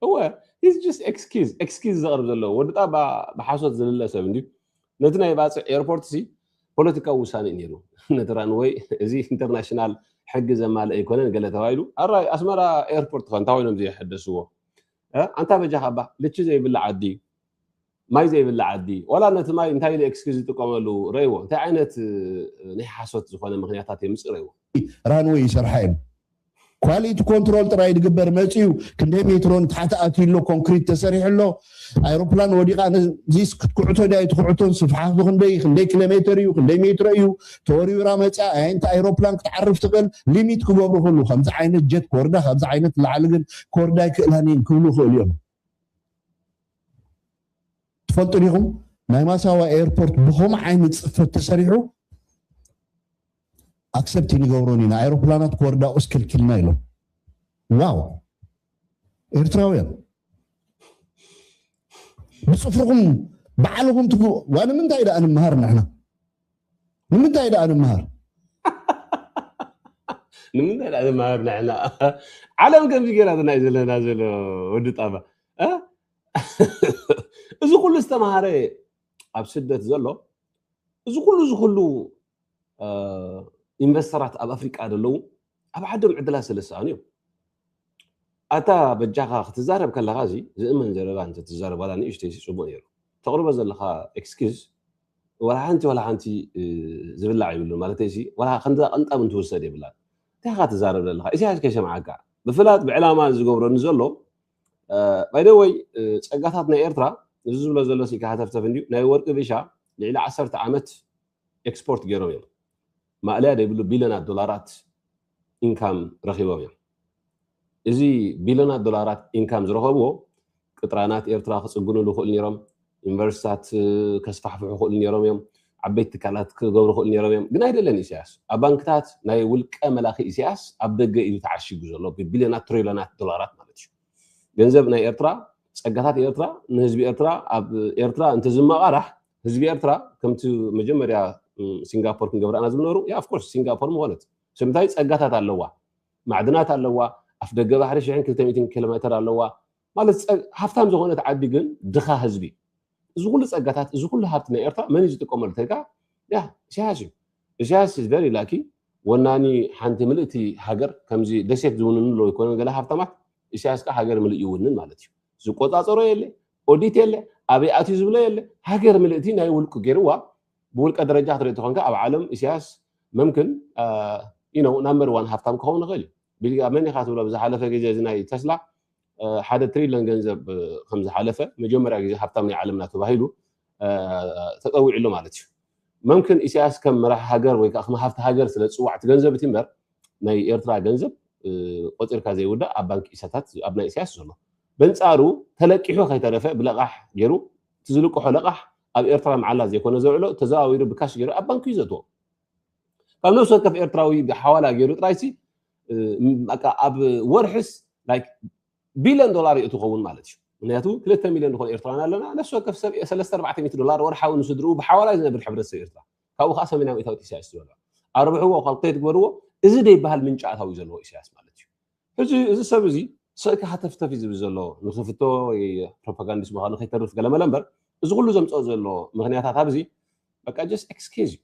እወ ሂዝ ጅስት ኤክስኪዝ ኤክስኪዝ ዘቕርብ ዘሎ ወዲ ጣባ ብሓሶት ዝልለ ሰብ እንድዩ። ነቲ ናይ ባጽዕ ኤርፖርትሲ ፖለቲካዊ ውሳኔ እዩ ነይሩ። ነቲ ራንወይ እዚ ኢንተርናሽናል ሕጊ ዘማልእ ኣይኮነን ገለ ተባሂሉ ኣራይ ኣስመራ ኤርፖርት ከ እንታይ ኮይኖም ዘየሐደስዎ ኣንታ በጃኻ እባ ልቺ ዘይብላ ዓዲ ማይ ዘይብላ ዓዲ ዋላ ነቲ ማይ እንታይ ኢሉ ኤክስኪዝ ዝጥቀመሉ ረእይዎ እንታይ ዓይነት ናይ ሓሶት ዝኾነ ምኽንያታት የምጽእ ረእይዎ። ራንወይ ይሰርሓ እየን ኳሊቲ ኮንትሮል ጥራይ ድግበር መጽዩ ክንደይ ሜትሮ ንታሕቲ ኣትዩ ኣሎ ኮንክሪት ተሰሪሑ ኣሎ ኣይሮፕላን ወዲቓ ነዚስ ክትኩዕቶ ድያ ኣይትኩዕቶን ስፍሓቱ ክንደይ ክንደይ ኪሎ ሜትር እዩ ክንደይ ሜትሮ እዩ ተወሪውራ መጽያ ኣየንቲ ኣይሮፕላን ክትዓርፍ ትኽእል ሊሚት ክገብሩ ክሉ ከምዚ ዓይነት ጀት ክወርዳ ካብዚ ዓይነት ላዕሊ ግን ክወርዳ ኣይክእላን እየን ክብሉ ይኽእሉ እዮም ትፈልጡ ዲኹም ናይ ማሳዋ ኤርፖርት ብከምኡ ዓይነት ፅፈት ተሰሪሑ ኣክሰፕት ንገብሮን ኢና ኣይሮፕላናት ክወርዳ ቁስ ክልክልና ኢሎም ዋው ኤርትራውያን ብፅፍርኹም ባዕልኹም ትግ ዋንምንታይ ደኣ ንምሃር ንሕና ንምንታይ ደኣ ንመሃር ንምንታይ ደኣ ንመሃር ንሕና ዓለም ከምዚ ገይራትና እዩ ዘለና ዘሎ ወዲ ጣባ እ? እዚ ኩሉ ዝተምሃረ ኣብ ስደት ዘሎ እዚ ኩሉ እዚ ኩሉ እ፣ ኢንቨስተራት ኣብ ኣፍሪቃ ዘለዉ ኣብ ዓዶም ዕድላት ስለ ዝሰኣኑ እዮም። ኣታ በጃኻ ክትዛረብ ከለኻ እዚ ዝእመን ዘረባ እንተትዛረብ ዋላ ንእሽተይሲ ጽቡቕ ነይሩ። ተቕርቦ ዘለኻ ኤክስኪዝ ዋላ ሓንቲ ዋላ ሓንቲ ዝብላዕ ይብሉን ማለተይሲ ዋላ ከምዛ ቅንጣብ እንትውሰድ የብላን። እንታይ ኢኻ ትዛረብ ዘለኻ ኢሳያስ ከይሰምዓካ ብፍላጥ ብዕላማ ዝገብሮ ንዘሎ ባይደወይ ጸጋታት ናይ ኤርትራ እዚ ዝብሎ ዘሎ ስኢካ ሃተፍተፍ እንድዩ ናይ ወርቂ ቢሻ ልዕሊ ዓሰርተ ዓመት ኤክስፖርት ገይሮም እዮም። ማእለያ ዘይብሉ ቢልዮናት ዶላራት ኢንካም ረኺቦም እዮም። እዚ ቢልዮናት ዶላራት ኢንካም ዝረኸብዎ ቅጥራናት ኤርትራ ክፅግንሉ ይኽእሉ ነይሮም፣ ዩኒቨርሲታት ከስፋሕፍሑ ይኽእሉ ነይሮም እዮም፣ ዓበይቲ ትካላት ክገብሩ ይኽእሉ ነይሮም እዮም፣ ግን ኣይደለን ኢሳያስ። ኣብ ባንክታት ናይ ውልቀ መላኺ ኢሳያስ ኣብ ደገ እዩ ተዓሺጉ ዘሎ ብቢልዮናት ትሪልዮናት ዶላራት ማለት እዩ። ገንዘብ ናይ ኤርትራ ጸጋታት ኤርትራ ንህዝቢ ኤርትራ ኣብ ኤርትራ እንተዝመቓራሕ ህዝቢ ኤርትራ ከምቲ መጀመርያ ሲንጋፖር ክንገብራና ዝብነሩ ያ ኣፍኮርስ ሲንጋፖር ምኾነት ስለምንታይ ጸጋታት ኣለዋ ማዕድናት ኣለዋ ኣፍ ደገ ባሕሪ ሽሕን ክልተ ሚእትን ኪሎ ሜተር ኣለዋ ማለት ሃብታም ዝኾነት ዓዲ ግን ድኻ ህዝቢ እዚ ኩሉ ጸጋታት እዚ ኩሉ ሃብቲ ናይ ኤርትራ መን እዩ ዝጥቀመሉ ተልካ ያ ኢሳያስ እዩ ኢሳያስ ኢዝ ቨሪ ላኪ ወናኒ ሓንቲ ምልእቲ ሃገር ከምዚ ደሴት ዝውንኑ ኣለዉ ይኮነ ገለ ሃብታማት ኢሳያስ ከዓ ሃገር ምልእ ይውንን ማለት እዩ ዝቆጻጸሮ የለ ኦዲት የለ ኣበይ ኣትዩ ዝብሎ የለ ሃገር ምልእቲ ናይ ውልቁ ገይርዋ ብውልቀ ደረጃ ክትርኢ ተኾንካ ኣብ ዓለም ኢሳያስ መምክን ኢነው ናምበር ዋን ሃፍታም ክኸውን ይኽእል እዩ ቢልጋ መን ኢኻ ትብሎ ብዝሓለፈ ግዜ እዚ ናይ ተስላ ሓደ ትሪሊዮን ገንዘብ ከም ዝሓለፈ መጀመርያ ግዜ ሃብታም ናይ ዓለምና ተባሂሉ ተፀዊዑ ኣሎ ማለት እዩ መምክን ኢሳያስ ከም መራሒ ሃገር ወይ ከኣ ከም ሃፍቲ ሃገር ስለ ዝጽዋዕ እቲ ገንዘብ እቲ እምበር ናይ ኤርትራ ገንዘብ ቆጺርካ ዘይውዳእ ኣብ ባንኪ ኢሳታት ኣብ ናይ ኢሳያስ ዘሎ በንጻሩ ተለቂሑ ከይተረፈ ብለቓሕ ገይሩ እቲ ዝልቅሖ ለቓሕ ኣብ ኤርትራ መዓላ ዘይኮነ ዘውዕሎ ተዘዋዊሩ ብካሽ ገይሩ ኣብ ባንኪ እዩ ዘእትዎ ካብ ነብሲ ወከፍ ኤርትራዊ ሓዋላ ገይሩ ጥራይሲ ኣብ ወርሕስ ቢልዮን ዶላር ይእቱ ኸውን ማለት እዩ። ምክንያቱ ክልተ ሚልዮን ንኾን ኤርትራውያን ኣለና፣ ነፍሲ ወከፍ ሰብ ሰለስተ ኣርባዕተ ሚእቲ ዶላር ወርሓዊ ንስድርኡ ብሓዋላ ዝነብር ሕብረተሰብ ኤርትራ፣ ካብኡ ከኣ ሰሜናዊ እታዎት ኢሳያስ ዝበልዖ። ኣርብሕዎ፣ ካልኩሌት ግበርዎ፣ እዚ ደይበሃል ምንጪ ኣታዊ እዩ ዘለዎ ኢሳያስ ማለት እዩ። ሕጂ እዚ ሰብ እዚ ስቅኪ ሃተፍተፍ እዩ ዝብል ዘሎ፣ ንክፍቶ ወይ ፕሮፓጋንዲስት ምዃኑ ከይተርፍ ገለመለ እምበር፣ እዚ ኩሉ ዘምጽኦ ዘሎ ምክንያታት ኣብዚ በቃ ጀስት ኤክስኪዝ እዩ።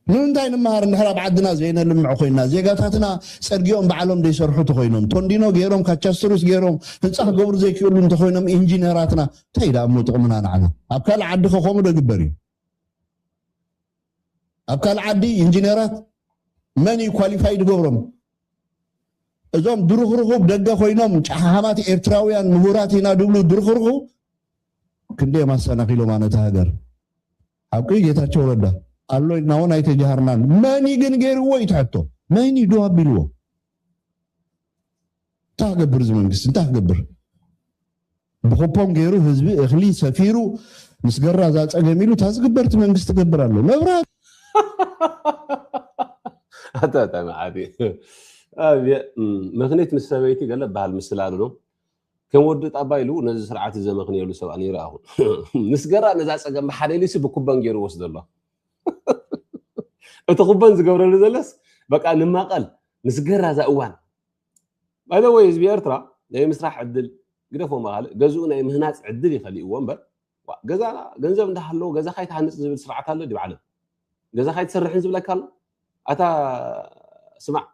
ንምንታይ ንመሃር እንድሕር ኣብ ዓድና ዘይነልምዕ ኮይንና ዜጋታትና ጸርጊኦም ባዕሎም ዘይሰርሑ ተኾይኖም ቶንዲኖ ጌሮም ካቻስትሩስ ጌሮም ህንጻ ክገብሩ ዘይክእሉ እንተኾይኖም ኢንጂነራትና እንታይ ደኣ እሞ ጥቕምና ንዓና ኣብ ካልእ ዓዲ ከ ከምኡ ዶ ይግበር እዩ ኣብ ካልእ ዓዲ ኢንጂነራት መን እዩ ኳሊፋይድ ገብሮም እዞም ድርኽርኹብ ደገ ኮይኖም ጫሓሓማት ኤርትራውያን ምሁራት ኢና ድብሉ ድርኽርኹ ክንደዮም ኣሰናኺሎማ ነታ ሃገር ሓቂ ጌታቸው ረዳ ኣሎ ኢልና እውን ኣይተጃሃርናን መን እዩ ግን ገይርዎ እዩ እቲ ሕቶ መን እዩ ዶ ኣቢልዎ እንታይ ክገብር እዚ መንግስቲ እንታይ ክገብር ብኩፖን ገይሩ ህዝቢ እኽሊ ሰፊሩ ምስ ገራ እዛ ፀገም ኢሉ እታ ዝግበርቲ መንግስቲ ገብር ኣሎ መብራት ኣታታ መዓት ምክኒት ምስ ሰበይቲ ገለ በሃል ምስላሉ ዶ ከም ወዲ ጣባ ኢሉ ነዚ ስርዓት እዚ ዘመኽንየሉ ሰብ ኣይረኣኹን። ምስገራ ነዛ ጸገም ብሓደ ኢሉሲ ብኩበን ገይሩ ይወስዶ ኣሎ። እቲ ኩበን ዝገብረሉ ዘሎስ በቃ ንማቐል ምስገራ እዛ እዋን ባይ ዘ ወይ ህዝቢ ኤርትራ ናይ ምስራሕ ዕድል ግደፎ መኻልእ ገዝኡ ናይ ምህናጽ ዕድል ይኸሊእዎ እምበር ዋእ ገዛ ገንዘብ እንዳሃለዎ ገዛኻ ኣይትሃንጽ ዝብል ስርዓት ኣሎ ድዩ ዓለም? ገዛኻ ኣይትሰርሕን ዝብለካ ኣሎ? ኣታ ስማዕ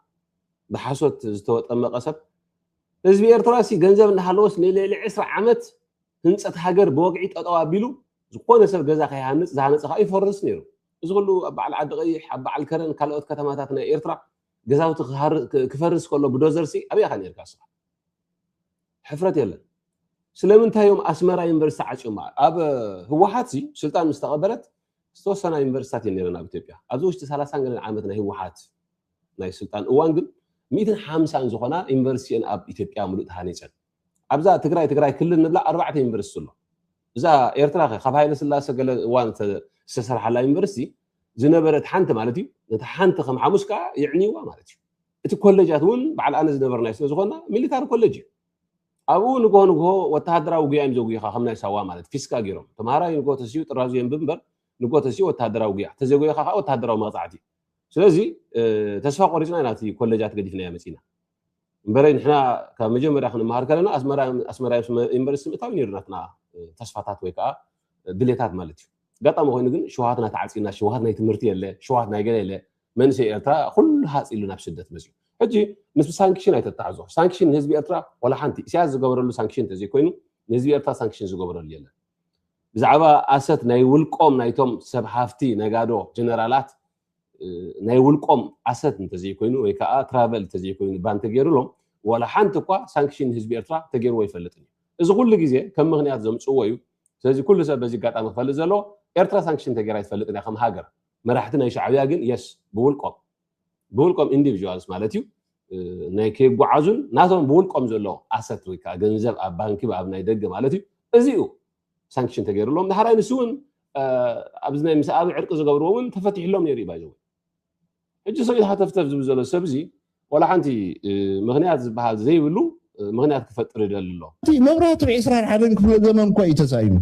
ብሓሶት ዝተወጠመቐ ሰብ ህዝቢ ኤርትራ ሲ ገንዘብ እንዳሃለዎስ ንልዕሊ ዕስራ ዓመት ህንጸት ሃገር ብወግዒ ጠጠው ኣቢሉ ዝኾነ ሰብ ገዛ ከይሃንጽ ዝሃነጸ ከኣ ይፈርስ ነይሩ። እዚ ኩሉ ኣብ በዓል ዓዲ ቀይሕ ኣብ በዓል ከረን ካልኦት ከተማታት ናይ ኤርትራ ገዛውቲ ክፈርስ ከሎ ብዶዘርሲ ኣበይ ኢኻ ነርካ ንስኻ? ሕፍረት የለን ስለምንታይ እዮም ኣስመራ ዩኒቨርሲቲ ዓጽዮማ ኣብ ህወሓት ሲ ስልጣን ምስ ተቐበለት ዝተወሰና ዩኒቨርሲታት እየን ነይረን ኣብ ኢትዮጵያ ኣብዚ ውሽጢ ሰላሳን ገለን ዓመት ናይ ህወሓት ናይ ስልጣን እዋን ግን ሚእትን ሓምሳን ዝኾና ዩኒቨርሲቲ እየን ኣብ ኢትዮጵያ ምሉእ ተሃኒፀን ኣብዛ ትግራይ ትግራይ ክልል ንብላ ኣርባዕተ ዩኒቨርሲቲ ኣሎ እዛ ኤርትራ ከ ካብ ሃይለ ስላሰ ገለ እዋን ዝተሰርሓላ ዩኒቨርሲቲ ዝነበረት ሓንቲ ማለት እዩ ነቲ ሓንቲ ከም ሓሙስ ከዓ የዕንይዋ ማለት እዩ እቲ ኮለጃት እውን በዓል ኣነ ዝነበርናዮ ስለ ዝኾና ሚሊታሪ ኮለጅ እዩ ኣብኡ ንግሆ ንግሆ ወተሃደራዊ ጉያ እዮም ዘጉይኻ ከም ናይ ሳዋ ማለት ፊስካ ገይሮም ተምሃራይ ንግሆ ተሲኡ ጥራዙ የንብብ እምበር ንግሆ ተሲኡ ወተሃደራዊ ጉያ ተዘይጎይኻ ከዓ ወተሃደራዊ መቕፃዕቲ እዩ ስለዚ ተስፋ ቆሪፅና ኢና እቲ ኮለጃት ገዲፍናዮ መፂና እምበረይ ንሕና ካብ መጀመርያ ክንመሃር ከለና ኣስመራ ዩኒቨርሲቲ ምእታው ነይሩ ናትና ተስፋታት ወይ ከዓ ድሌታት ማለት እዩ ኣጋጣሚ ኮይኑ ግን ሸውሃትና ተዓፂና ሸውሃት ናይ ትምህርቲ የለ ሸውሃት ናይ ገለ የለ መንእሰይ ኤርትራ ኩሉ ሃጽ ኢሉ ናብ ስደት መጽዩ ሕጂ ምስ ሳንክሽን ኣይተታሕዞ ሳንክሽን ንህዝቢ ኤርትራ ዋላ ሓንቲ ኢሳያስ ዝገበረሉ ሳንክሽን ተዘይኮይኑ ንህዝቢ ኤርትራ ሳንክሽን ዝገበረሉ የለን ብዛዕባ ኣሰት ናይ ውልቆም ናይቶም ሰብ ሃፍቲ ነጋዶ ጀነራላት ናይ ውልቆም ኣሰት እንተዘይኮይኑ ወይ ከዓ ትራቨል እንተዘይኮይኑ ባን ተገይሩሎም ዋላ ሓንቲ እኳ ሳንክሽን ንህዝቢ ኤርትራ ተገይርዎ ኣይፈልጥን እዩ እዚ ኩሉ ግዜ ከም ምክንያት ዘምፅዎ እዩ ስለዚ ኩሉ ሰብ በዚ ኣጋጣሚ ክፈልጥ ዘለዎ ኤርትራ ሳንክሽን ተገይራ ኣይትፈልጥን እያ ከም ሃገር መራሕቲ ናይ ሻዕብያ ግን የስ ብውልቆም ብውልቆም ኢንዲቪዥዋልስ ማለት እዩ ናይ ከይጓዓዙን ናቶም ብውልቆም ዘሎ ኣሰት ወይ ከዓ ገንዘብ ኣብ ባንኪ ኣብ ናይ ደገ ማለት እዩ እዚ እዩ ሳንክሽን ተገይሩሎም ዳሕራይ ንሱ እውን ኣብዚ ናይ ምስ ኣብ ዕርቂ ዝገብርዎ እውን ተፈቲሕሎም ነይሩ እዩ ባይዘወ ሕጂ ሰብኢት ሃተፍተፍ ዝብል ዘሎ ሰብ እዚ ዋላ ሓንቲ ምክንያት ዝበሃል ዘይብሉ ምክንያት ክፈጥር ይደሊ ኣሎ እቲ መብራህቱ ዒስራን ሓደን ክፍለ ዘመን እኳ እዩ ተሳኢኑ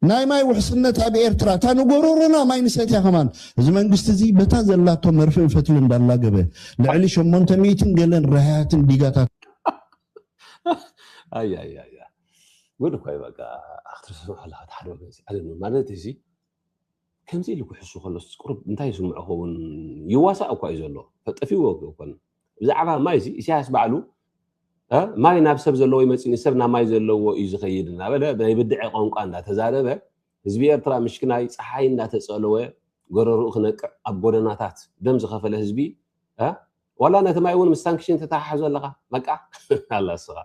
ናይ ማይ ውሕስነት ኣብ ኤርትራ እታ ንጎሮሮና ማይ ንሰትያ ከማን እዚ መንግስቲ እዚ በታ ዘላቶ መርፍእን ፈትል እንዳላገበ ልዕሊ ሸሞንተ ሚእትን ገለን ራህያትን ዲጋታት ኣያ ጉድ እኳ እዩ በቃ ክትርስዑ ኣለካ ሓደ ወገን ማለት እዚ ከምዚ ኢሉ ክሕሱ ከሎስ ቁሩብ እንታይ ይስምዖ ክኸውን? ይዋሳእ እኳ እዩ ዘሎ፣ ጠፊእዎ ኣይኮነን። ብዛዕባ ማይ እዚ ኢሳያስ ባዕሉ ማይ ናብ ሰብ ዘለዎ ይመጽእን ሰብ ናብ ማይ ዘለዎ እዩ ዝኸይድ እናበለ ናይ ብድዐ ቋንቋ እንዳተዛረበ ህዝቢ ኤርትራ ምሽክናይ ጸሓይ እንዳተጸለወ ጎረርኡ ክነቅዕ ኣብ ጎደናታት ደም ዝኸፈለ ህዝቢ ዋላ ነቲ ማይ እውን ምስ ሳንክሽን ተተሓሕዞ ኣለኻ መቃ ኣላ ስኻ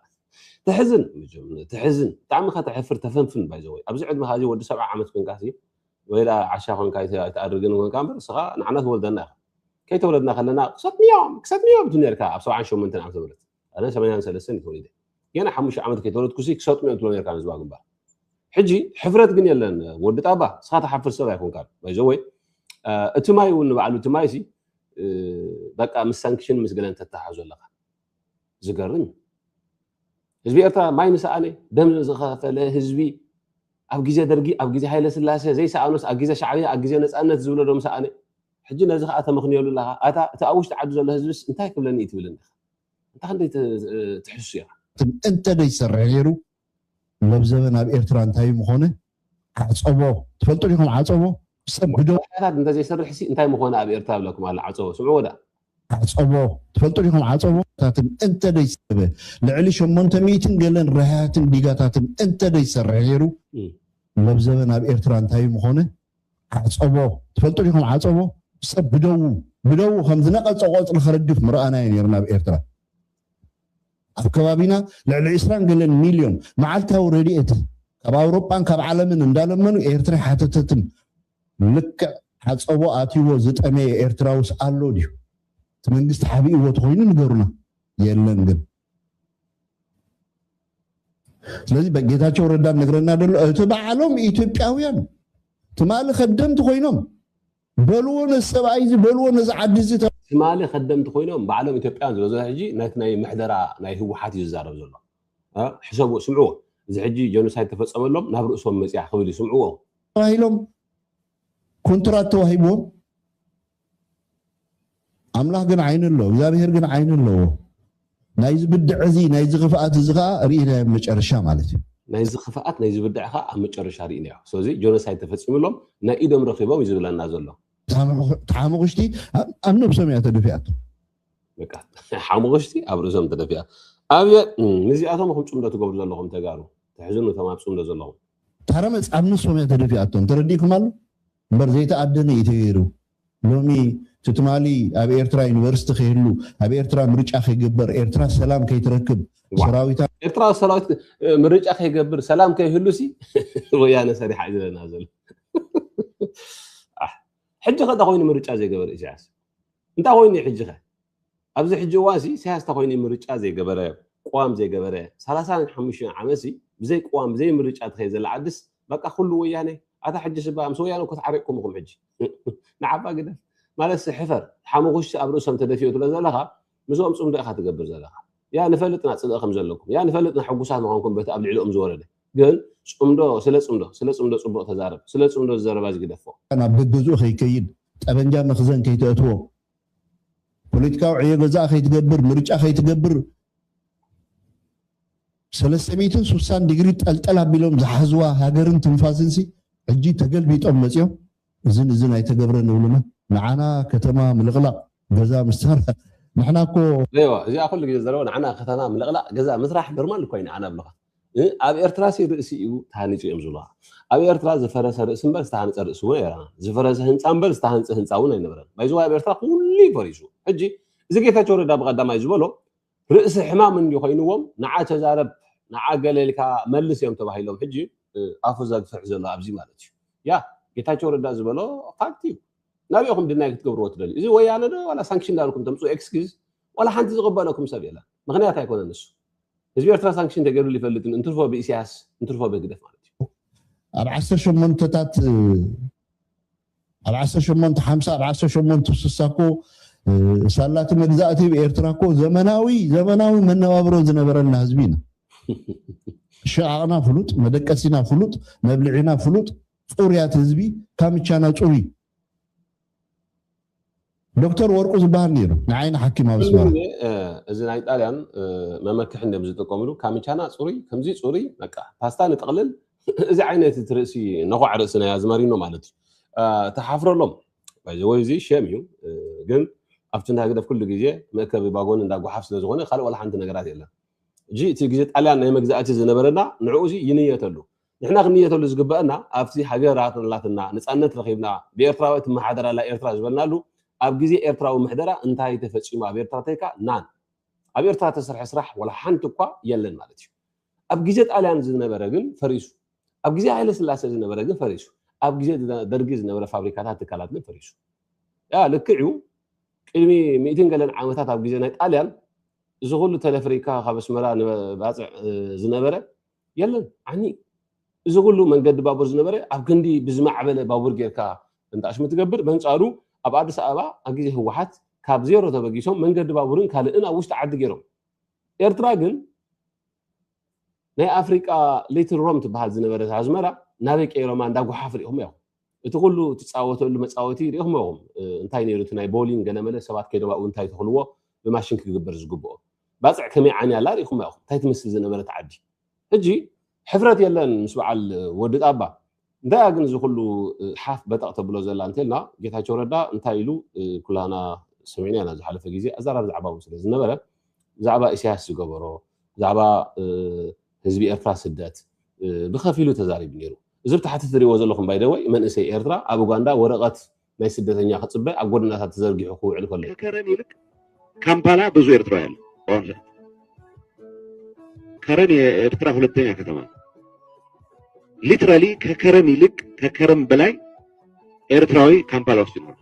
ተሕዝን መጀመ- ተሕዝን ብጣዕሚ እኻ ተሕፍር ተፈንፍን ባይዘወይ ኣብዚ ዕድመኻ እዚ ወዲ ሰብዓ ዓመት ኮንካ ሲ ወይላ ዓሻ ኮንካ ኣይተ- ኣይትኣርግን ኮንካ እምበር ስኻ ንዓና ትወልደና ኢኻ ከይተወለድና ከለና ክሰትንዮም ክሰትንዮም ትብል ነርካ ኣብ ሰብዓን ሸሞንተን ዓመተ ምህረት ኣነ ሰማንያን ሰለስተን እዩ ተወሊደ ገና ሓሙሽተ ዓመት ከይተወለድኩሲ ክሰጥሙ እዮም ትብሎ ነርካ ንህዝባዊ ግንባር ሕጂ ሕፍረት ግን የለን ወዲ ጣባ ንስኻ ተሓፍር ሰብ ኣይኮንካ ባይዘወይ እቲ ማይ እውን ንባዕሉ እቲ ማይ ሲ በቃ ምስ ሳንክሽን ምስ ገለን ተተሓዞ ኣለካ ዝገርም እዩ ህዝቢ ኤርትራ ማይ ንሰኣነ ደም ዝኸፈለ ህዝቢ ኣብ ግዜ ደርጊ ኣብ ግዜ ሃይለ ስላሴ ዘይሰኣኖስ ኣብ ግዜ ሻዕብያ ኣብ ግዜ ነፃነት ዝብሎ ዶም ሰኣነ ሕጂ ነዚ ከዓ ተመኽንየሉ ኣለካ ኣታ እቲ ኣብ ውሽጢ ዓዲ ዘሎ ህዝብስ እንታይ ክብለኒ እዩ ትብልን እንታ ክንደይ ትሕሱ እያ። እንተ ደይ ሰርሕ ነይሩ ለብዘበ ናብ ኤርትራ እንታይ ምኾነ ዓጸቦ ትፈልጡ ዲኹም ዓጸቦ ሰብ ብደሙ ባሕርታት እንተ ዘይሰርሕ ሲ እንታይ ምኾነ ኣብ ኤርትራ ይብለኩም ኣሎ ዓጸቦ ስምዕዎ ደኣ። ዓጸቦ ትፈልጡ ዲኹም ዓጸቦ ታትን እንተ ደይ ሰበ ልዕሊ ሸሞንተ ሚእትን ገለን ረሃህትን ዲጋታትን እንተ ደይ ሰርሕ ነይሩ ለብዘበ ናብ ኤርትራ እንታይ ምኾነ ዓፀቦ ትፈልጡ ዲኹም ዓፀቦ ሰብ ብደዉ ብደዉ ከም ዝነቐፀ ቆፅሊ ክረግፍ ምረኣናዮ ነይርና ኣብ ኤርትራ ኣብ ከባቢና ልዕሊ ዕስራን ገለን ሚልዮን መዓልታዊ ረድኤት ካብ ኣውሮጳን ካብ ዓለምን እንዳለመኑ ኤርትራ ሓተተትም ልክዕ ዓፀቦ ኣትይዎ ዝጠመየ ኤርትራውስ ኣሎ ድዩ እቲ መንግስቲ ሓቢእዎ ተኾይኑ ንገሩና የለን ግን ስለዚ ጌታቸው ረዳ ነግረና ደሎ እቲ በዓሎም ኢትዮጵያውያን ትማሊ ከደምቲ ኮይኖም በልዎ ነዚ ሰብኣይ እዚ በልዎ ነዚ ዓዲ እዚ ትማሊ ከደምቲ ኮይኖም ባዕሎም ኢትዮጵያውያን ዝበዝሖ ሕጂ ነቲ ናይ ምሕደራ ናይ ህወሓት እዩ ዝዛረብ ዘሎ ሕሰቡ ስምዕዎ እዚ ሕጂ ጀኖሳይድ ተፈፀመሎም ናብ ርእሶም መፅያ ክብል እዩ ስምዕዎ ተባሂሎም ኮንትራት ተዋሂብዎም ኣምላኽ ግን ዓይኒ ኣሎ፣ እግዚኣብሄር ግን ዓይኒ ኣለዎ። ናይዚ ብድዐ እዚ ናይዚ ክፍኣት እዚ ከኣ ርኢናዮ ኣብ መጨረሻ ማለት እዩ። ናይዚ ክፍኣት ናይዚ ብድዐ ከኣ ኣብ መጨረሻ ርኢናዮ። ስለዚ ጆኖሳይድ ተፈጺምሎም ናይ ኢዶም ረኺቦም እዩ ዝብለና ዘሎ። እታ ሓሙኽሽቲ ኣብ ነብሶም እያ ተደፊኣቶ። በቃ ሓሙኽሽቲ ኣብ ርእሶም ተደፊኣ። ኣብየ ንዚኣቶም እኹም ጽምዶ ትገብሩ ዘለኹም ተጋሩ ተሕዝኑ እቶም ኣብ ጽምዶ ዘለኹም። ታረመጽ ኣብ ነብሶም እያ ተደፊኣቶም ተረዲእኩም ኣሎ። እምበር ዘይተኣደነ እዩ ተገይሩ ሎሚ እቲ ትማሊ ኣብ ኤርትራ ዩኒቨርስቲ ከይህሉ ኣብ ኤርትራ ምርጫ ከይግበር ኤርትራ ሰላም ከይትረክብ ሰራዊታ ኤርትራ ሰራዊት ምርጫ ከይገብር ሰላም ከይህሉ ሲ ወያነ ሰሪሓ እዩ ዝለና ዘሎ ሕጂ ከዳ ኮይኑ ምርጫ ዘይገበረ ኢሳያስ እንታይ ኮይኑ እዩ ሕጂኸ? ኣብዚ ሕጂ እዋንሲ ኢሳያስ እንታይ ኮይኑ እዩ ምርጫ ዘይገበረ፣ ቅዋም ዘይገበረ፣ ሰላሳን ሓሙሽተን ዓመትሲ ብዘይ ቅዋም ብዘይ ምርጫ ትኸይድ ዘላ ዓድስ በቃ ኩሉ ወያኔ፣ ኣታ ሕጂስ እባ ምስ ወያኔ እኮ ተዓሪቕኩም ኢኹም ሕጂ ንዓባ ግደፍ ማለትሲ ሕፈር ሓሙኹሽቲ ኣብ ርእሶም ተደፊኡ ትብሎ ዘለኻ ምስኦም ጽምዶ ኢኻ ትገብር ዘለኻ ያ ንፈልጥ ኢና ጽልኢ ከም ዘለኩም ያ ንፈልጥ ኢና ሕጉሳት ምዃንኩም በቲ ኣብ ልዕሊኦም ዝወረደ ግን ጽምዶ ስለ ጽምዶ ስለ ጽምዶ ጽቡቅ ተዛረብ ስለ ጽምዶ ዝዘረባ'ዚ ግደፎ። ናብ ገገዝኡ ከይከይድ ጠበንጃ መኽዘን ከይተእትዎ ፖለቲካዊ ዕዮ ገዛኣ ከይትገብር ምርጫ ከይትገብር ሰለስተ ሚእትን ሱሳን ዲግሪ ጠልጠል ኣቢሎም ዝሓዝዋ ሃገርን ትንፋስንሲ ሕጂ ተገልቢጦም መጺኦም እዝን እዝን ኣይተገብረን ይብሉና ንዓና ከተማ ምልቅላቅ ገዛ ምስታራ ንሕና እኮ። እዋ እዚኣ ኩሉ ግዜ ዝዛረባ ንዓና ከተማ ምልቅላቅ ገዛ ምስራሕ ኖርማል እኮ እዩ ንዓና ብልካ ኣብ ኤርትራ ሲ ርእሲ እዩ ተሃኒጹ እዮም ዝብሉካ ኣብ ኤርትራ ዝፈረሰ ርእሲ እምበር ዝተሃንጸ ርእሲ እውን ኣይረኣና ዝፈረሰ ህንጻ እምበር ዝተሃንጸ ህንጻ እውን ኣይነበረን ባይዘዋይ ኣብ ኤርትራ ኩሉ እዩ ፈሪሱ ሕጂ እዚ ጌታቸው ረዳ ብቀዳማይ ዝበሎ ርእሲ ሕማም እንድዩ ኮይንዎም ንዓ ተዛረብ ንዓ ገለ ኢልካ መልስ እዮም ተባሂሎም ሕጂ ኣፉ ዘግፍሕ ዘሎ ኣብዚ ማለት እዩ ያ ጌታቸው ረዳ ዝበሎ ፋክት እዩ ናበይ ኢኹም ድናይ ክትገብርዎ ትደልዩ እዚ ወያነ ዶ ዋላ ሳንክሽን ዳልኩም ተምፅኡ ኤክስኪዝ ዋላ ሓንቲ ዝቕበለኩም ሰብ የለን ምክንያት ኣይኮነ ንሱ ህዝቢ ኤርትራ ሳንክሽን ተገይሩሉ ይፈልጥን እንትርፎ ብኢሳያስ እንትርፎ ብህግደፍ ማለት እዩ ኣብ ዓሰርተ ሸሞንተታት ኣብ ዓሰርተ ሸሞንተ ሓምሳ ኣብ ዓሰርተ ሸሞንተ ስሳ እኮ ሳላ እቲ መግዛእቲ ብ ኤርትራ እኮ ዘመናዊ ዘመናዊ መነባብሮ ዝነበረና ህዝቢ ኢና። ሸቃቕና ፍሉጥ፣ መደቀሲና ፍሉጥ፣ መብልዒና ፍሉጥ፣ ጹርያት ህዝቢ ካምቻና ጹሩይ ዶክተር ወርቁ ዝባሃል ነይሩ ንዓይ ንሓኪም ኣብ ኣስመራ። ሎሚ እዚ ናይ ጣልያን መመክሒ እንድዮም ዝጥቀምሉ ካምቻና ጽሩይ ከምዚ ጽሩይ በቃ ፓስታ ንጥቕልል እዚ ዓይነት እቲ ርእሲ ነዃዕ ርእሲ ናይ ኣዝመሪኖ ማለት እዩ ተሓፍረሎም ባይ ዘ ወይ እዚ ሸም እዩ ግን ኣብቲ እንዳ ህግደፍ ኩሉ ግዜ መእከቢ ባጎኒ እንዳ ጓሓፍ ስለ ዝኾነ ካልእ ወላ ሓንቲ ነገራት የለን እጂ እቲ ግዜ ጣልያን ናይ መግዛእቲ ዝነበረና ንዕኡ እዚ ይንየተሉ ንሕና ክንንየተሉ ዝግበእና ኣብቲ ሃገራ ተላትና ነጻነት ረኺብና ብኤርትራዊ እትመሓደር ኣላ ኤርትራ ዝበልናሉ ኣብ ግዜ ኤርትራዊ ምሕደራ እንታይ ተፈጺሙ ኣብ ኤርትራ ተይካ ናን ኣብ ኤርትራ ተሰርሐ ስራሕ ወላ ሓንቲ እኳ የለን ማለት እዩ ኣብ ግዜ ጣልያን ዝነበረ ግን ፈሪሱ ኣብ ግዜ ሃይለ ስላሴ ዝነበረ ግን ፈሪሱ ኣብ ግዜ ደርጊ ዝነበረ ፋብሪካታት ትካላት ግን ፈሪሱ ያ ልክዕ እዩ ቅድሚ ሚእትን ገለን ዓመታት ኣብ ግዜ ናይ ጣልያን እዚ ኩሉ ተለፍሪካ ካብ ኣስመራ ንባፅዕ ዝነበረ የለን ዓኒ እዚ ኩሉ መንገዲ ባቡር ዝነበረ ኣብ ክንዲ ብዝማዕበለ ባቡር ጌርካ እንተኣሽሙ ትገብር በንጻሩ ኣብ ኣዲስ ኣበባ ኣብ ግዜ ህወሓት ካብ ዜሮ ተበጊሶም መንገዲ ባቡርን ካልእን ኣብ ውሽጢ ዓዲ ጌሮም ኤርትራ ግን ናይ ኣፍሪቃ ሊትል ሮም ትበሃል ዝነበረት ኣዝመራ ናበይ ቀይሮማ እንዳ ጎሓፍ ሪኢኹም ያኹ እቲ ኩሉ ትጻወተሉ መጻወቲ ሪኢኹሞ ኢኹም እንታይ ነይሩ እቲ ናይ ቦሊንግ ገለመለ ሰባት ከይዶም ኣብኡ እንታይ ተኽልዎ ብማሽን ክግበር ዝግብኦ ባጽዕ ከመይ ዓንያ ኣላ ሪኢኹማ ኢኹም እንታይ ትመስል ዝነበረት ዓዲ ሕጂ ሕፍረት የለን ምስ በዓል ወዲ ጣባ እንታያ ግን እዚ ኩሉ ሓፍ በጠቕ ተብሎ ዘላ እንተልና ጌታቸው ረዳ እንታይ ኢሉ ኩላና ሰሚዕና ኢና ዝሓለፈ ግዜ ኣዛራር ዛዕባ እውን ስለ ዝነበረ ብዛዕባ ኢሳያስ ዝገበሮ ብዛዕባ ህዝቢ ኤርትራ ስደት ብከፊሉ ተዛሪቡ ኔሩ እዚ ኣብ ታሕቲ ትሪእዎ ዘለኹም ባይ ዘ ወይ መንእሰይ ኤርትራ ኣብ ኡጋንዳ ወረቀት ናይ ስደተኛ ክጽበ ኣብ ጎደናታት ተዘርጊሑ ክውዕል ከሎ እዩ። ከከረን ይልቅ ካምፓላ ብዙ ኤርትራዊ ኣሎ በአሁኑ ሰዓት ከረን የኤርትራ ሁለተኛ ከተማ ሊትራሊ ከከረን ይልቅ ከከረን በላይ ኤርትራዊ ካምፓላ ውስጥ ይኖራል።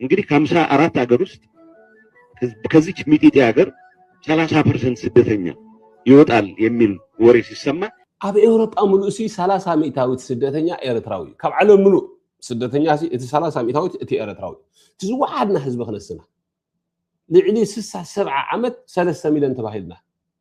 እንግዲህ ከሀምሳ አራት ሀገር ውስጥ ከዚች ሚጢጢ ሀገር ሰላሳ ፐርሰንት ስደተኛ ይወጣል የሚል ወሬ ሲሰማ ኣብ ኤውሮጳ ምሉእ ሲ ሰላሳ ሚእታዊት ስደተኛ ኤርትራዊ እዩ ካብ ዓለም ምሉእ ስደተኛ ሲ እቲ ሰላሳ ሚእታዊት እቲ ኤርትራዊ እቲ ዝወሓድና ህዝቢ ክነስና ልዕሊ ስሳ ሰብዓ ዓመት ሰለስተ ሚልዮን ተባሂልና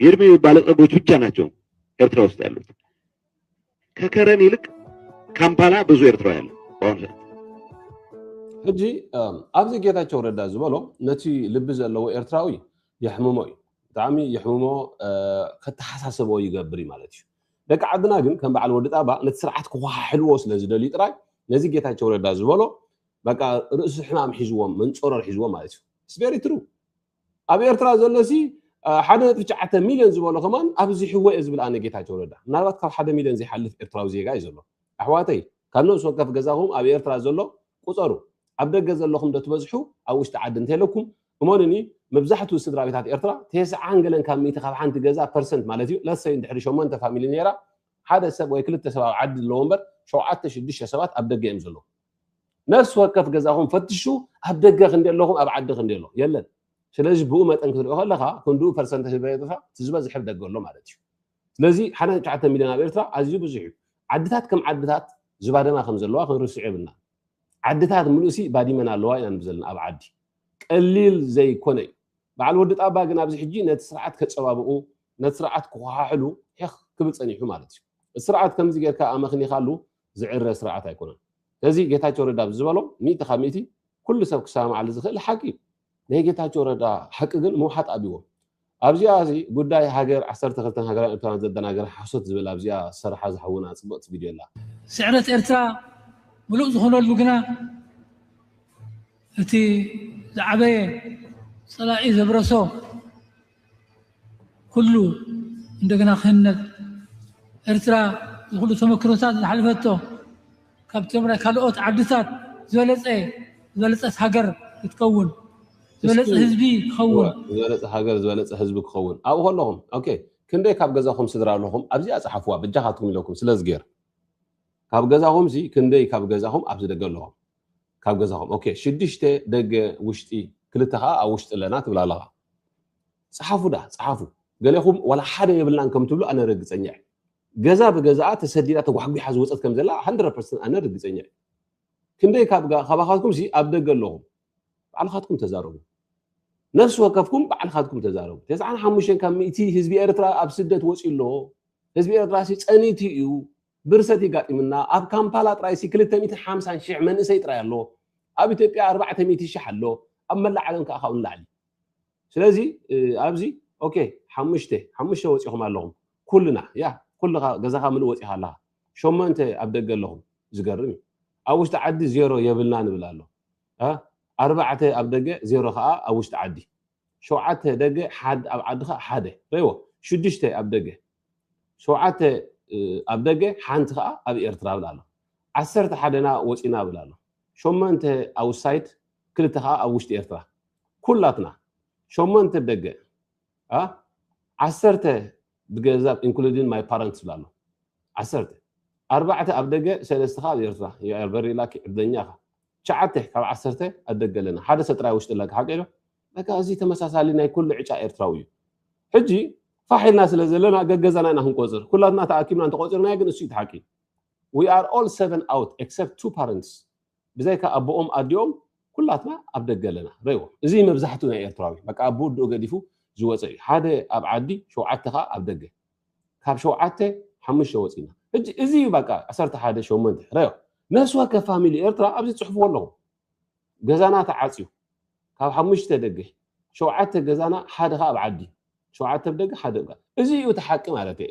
የእድሜ ባለጸጎች ብቻ ናቸው ኤርትራ ውስጥ ያሉት። ከከረን ይልቅ ካምፓላ ብዙ ኤርትራ ያለ በአሁኑ ሰዓት ሕጂ እም፣ ኣብዚ ጌታቸው ረዳ ዝበሎ ነቲ ልቢ ዘለዎ ኤርትራዊ የሕምሞ እዩ ብጣዕሚ የሕምሞ እ፣ ከተሓሳስቦ ይገብር እዩ ማለት እዩ ደቂ ዓድና ግን ከም በዓል ወዲ ጣባ ነቲ ስርዓት ክወሓሕልዎ ስለ ዝደልዩ ጥራይ ነዚ ጌታቸው ረዳ ዝበሎ በቃ ርእሲ ሕማም ሒዝዎም መንፀሮር ሒዝዎም ማለት እዩ ስቤሪ ትሩ ኣብ ኤርትራ ዘሎ ሲ ሓደ ነጥቢ ትሽዓተ ሚልዮን ዝበሎ ከማን ኣብዚ ሕወ እየ ዝብል ኣነ ጌታቸው ረዳ ምናልባት ካብ ሓደ ሚልዮን ዘይሓልፍ ኤርትራዊ ዜጋ እዩ ዘሎ ኣሕዋተይ ካብ ነብሲ ወከፍ ገዛኹም ኣብ ኤርትራ ዘሎ ቁፀሩ ኣብ ደገ ዘለኹም ዶ ትበዝሑ ኣብ ውሽጢ ዓዲ እንተለኩም እሞንኒ መብዛሕትኡ ስድራ ቤታት ኤርትራ ቴስዓን ገለን ካብ ሚእቲ ካብ ሓንቲ ገዛ ፐርሰንት ማለት እዩ ለሰይ እንድሕሪ ሸሞንተ ፋሚሊ ነይራ ሓደ ሰብ ወይ ክልተ ሰብ ኣብ ዓዲ ኣለዎ እምበር ሸውዓተ ሽዱሽተ ሰባት ኣብ ደገ እዮም ዘለዉ ነፍሲ ወከፍ ገዛኹም ፈትሹ ኣብ ደገ ክንዲ ኣለኹም ኣብ ዓዲ ክንዲ ኣሎ የለን ስለዚ ብኡ መጠን ክትሪኦ ከለካ ክንድኡ ፐርሰንት ህዝቢ ኤርትራ እቲ ዝበዝሐ ደገ ኣሎ ማለት እዩ ስለዚ ሓደ ትሽዓተ ሚልዮን ኣብ ኤርትራ ኣዝዩ ብዙሕ እዩ ዓድታት ከም ዓድታት ዝባደማ ከም ዘለዋ ክንርስዕ የብልና ዓድታት ምሉእሲ ባዲመን ኣለዋ ኢና ንብ ዘለና ኣብ ዓዲ ቀሊል ዘይኮነ እዩ በዓል ወዲ ጣባ ግን ኣብዚ ሕጂ ነቲ ስርዓት ከፀባብቑ ነቲ ስርዓት ክኳሓሕሉ ሒኽ ክብል ፀኒሑ ማለት እዩ እቲ ስርዓት ከምዚ ጌርካ ኣመኽኒኻሉ ዝዕረ ስርዓት ኣይኮነን ስለዚ ጌታቸው ረዳ ብዝበሎ ሚእቲ ካብ ሚእቲ ኩሉ ሰብ ክሰማማዓሉ ዝክእል ሓቂ እዩ ናይ ጌታቸው ረዳ ሓቂ ግን ምውሓጥ ኣብዎም ኣብዚኣ እዚ ጉዳይ ሃገር ዓሰርተ ክልተን ሃገራዊ ኤርትራን ዘደናግር ሓሶት ዝብል ኣብዚኣ ዝሰረሓ ዝሓውና ጽብቕቲ ቪድዮ ኣላ። ስዕረት ኤርትራ ምሉእ ዝኾነሉ ግና እቲ ዝዓበየ ጸላኢ ዘብረሶ ኩሉ እንደገና ክህነብ ኤርትራ ንኩሉ ተመክሮታት ዝሓለፈቶ ካብቶም ናይ ካልኦት ዓድታት ዝበለፀ ዝበለፀት ሃገር ክትከውን ዝበለፀ ህዝቢ ክኸውን ዝበለፀ ሃገር ዝበለፀ ህዝቢ ክኸውን ኣብኡ ከለኹም ኦኬ ክንደይ ካብ ገዛኹም ስድራ ኣለኹም ኣብዚኣ ፀሓፍዋ በጃኻትኩም ኢለኩም ስለ ዝገይር ካብ ገዛኹም ሲ ክንደይ ካብ ገዛኹም ኣብዚ ደገ ኣለኹም ካብ ገዛኹም ኦኬ ሽዱሽተ ደገ ውሽጢ ክልተ ከዓ ኣብ ውሽጢ ኣለና ትብላ ኣለኻ ጽሓፉ ዳኣ ጽሓፉ ገሌኹም ዋላ ሓደ የብልናን ከም ትብሉ ኣነ ርግጸኛ እየ ገዛ ብገዛኣ ተሰዲዳ ተጓሕጒሓ ዝወጸት ከም ዘላ ሃንድረድ ፐርሰንት ኣነ ርግጸኛ እየ ክንደይ ካብጋ ካባኻትኩም ሲ ኣብ ደገ ኣለኹም ባዕልኻትኩም ተዛረቡ ነፍሲ ወከፍኩም ባዕልኻትኩም ተዛረቡ ተስዓን ሓሙሽተን ካብ ሚእቲ ህዝቢ ኤርትራ ኣብ ስደት ወጺኡ ኣሎ ህዝቢ ኤርትራ ሲ ጸኒቱ እዩ ብርሰት የጋጢምና ኣብ ካምፓላ ጥራይሲ ክልተ ሚእትን ሓምሳን ሽሕ መንእሰይ ጥራይ ኣሎ ኣብ ኢትዮጵያ ኣርባዕተ ሚእቲ ሽሕ ኣሎ ኣብ መላእ ዓለም ከኣ ካብኡ ንላዕሊ ስለዚ ኣብዚ ኦኬ ሓሙሽተ ሓሙሽተ ወጺኹም ኣለኹም ኩልና ያ ኩልኻ ገዛኻ ምሉእ ወጺኻ ኣለኻ ሸሞንተ ኣብ ደገ ኣለኹም ዝገርም እዩ ኣብ ውሽጢ ዓዲ ዜሮ የብልና ንብል ኣሎ ኣርባዕተ ኣብ ደገ ዜሮ ከዓ ኣብ ውሽጢ ዓዲ ሸውዓተ ደገ ሓደ ኣብ ዓድኻ ሓደ ረይዎ ሽዱሽተ ኣብ ደገ ሸውዓተ ኣብ ደገ ሓንቲ ከኣ ኣብ ኤርትራ እብል ኣሎኩ። ዓሰርተ ሓደና ወጺና እብል ኣሎኩ። ሸሞንተ ኣውሳይድ ክልተ ከኣ ኣብ ውሽጢ ኤርትራ። ኩላትና ሸሞንተ ደገ ኣ ዓሰርተ ብገዛብ ኢንክሉዲን ማይ ፓረንትስ እብል ኣሎኩ። ዓሰርተ ኣርባዕተ ኣብ ደገ ሰለስተ ከኣ ኣብ ኤርትራ። ዩ ኣር ቨሪ ላኪ ዕድለኛ ኢካ። ትሽዓተ ካብ ዓሰርተ ኣብ ደገ ኣለና። ሓደ ሰብ ጥራይ ኣብ ውሽጢ ኣሎ። ሓቀይ ዶ? በቃ እዚ ተመሳሳሊ ናይ ኩሉ ዕጫ ኤርትራዊ እዩ። ሕጂ ፋሕ ኢልና ስለ ዘለና ገገዛና ኢና ክንቆጽር ኩላትና ተኣኪብና እንተቆጺርናዮ ግን እሱ እዩ ሓቂ we are all seven out except two parents ብዘይካ ኣቦኦም ኣዲኦም ኩላትና ኣብ ደገ ኣለና ረዎ እዚ መብዛሕትኡ ናይ ኤርትራዊ በቃ ኣብ ውድኡ ገዲፉ ዝወፀ እዩ ሓደ ኣብ ዓዲ ሸውዓተ ከዓ ኣብ ደገ ካብ ሸውዓተ ሓሙሽተ ወፂና ሕጂ እዚ እዩ በቃ ዓሰርተ ሓደ ሸሞንተ ረዮ ነፍሲ ወከፍ ፋሚሊ ኤርትራ ኣብዚ ፅሑፍዎ ኣለኹም ገዛና ተዓጽዩ ካብ ሓሙሽተ ደገ ሸውዓተ ገዛና ሓደ ከኣ ኣብ ዓዲ ሸውዓተ ኣብ ደገ ሓደ እብ እዚ እዩ እቲ ሓቂ ማለት እየ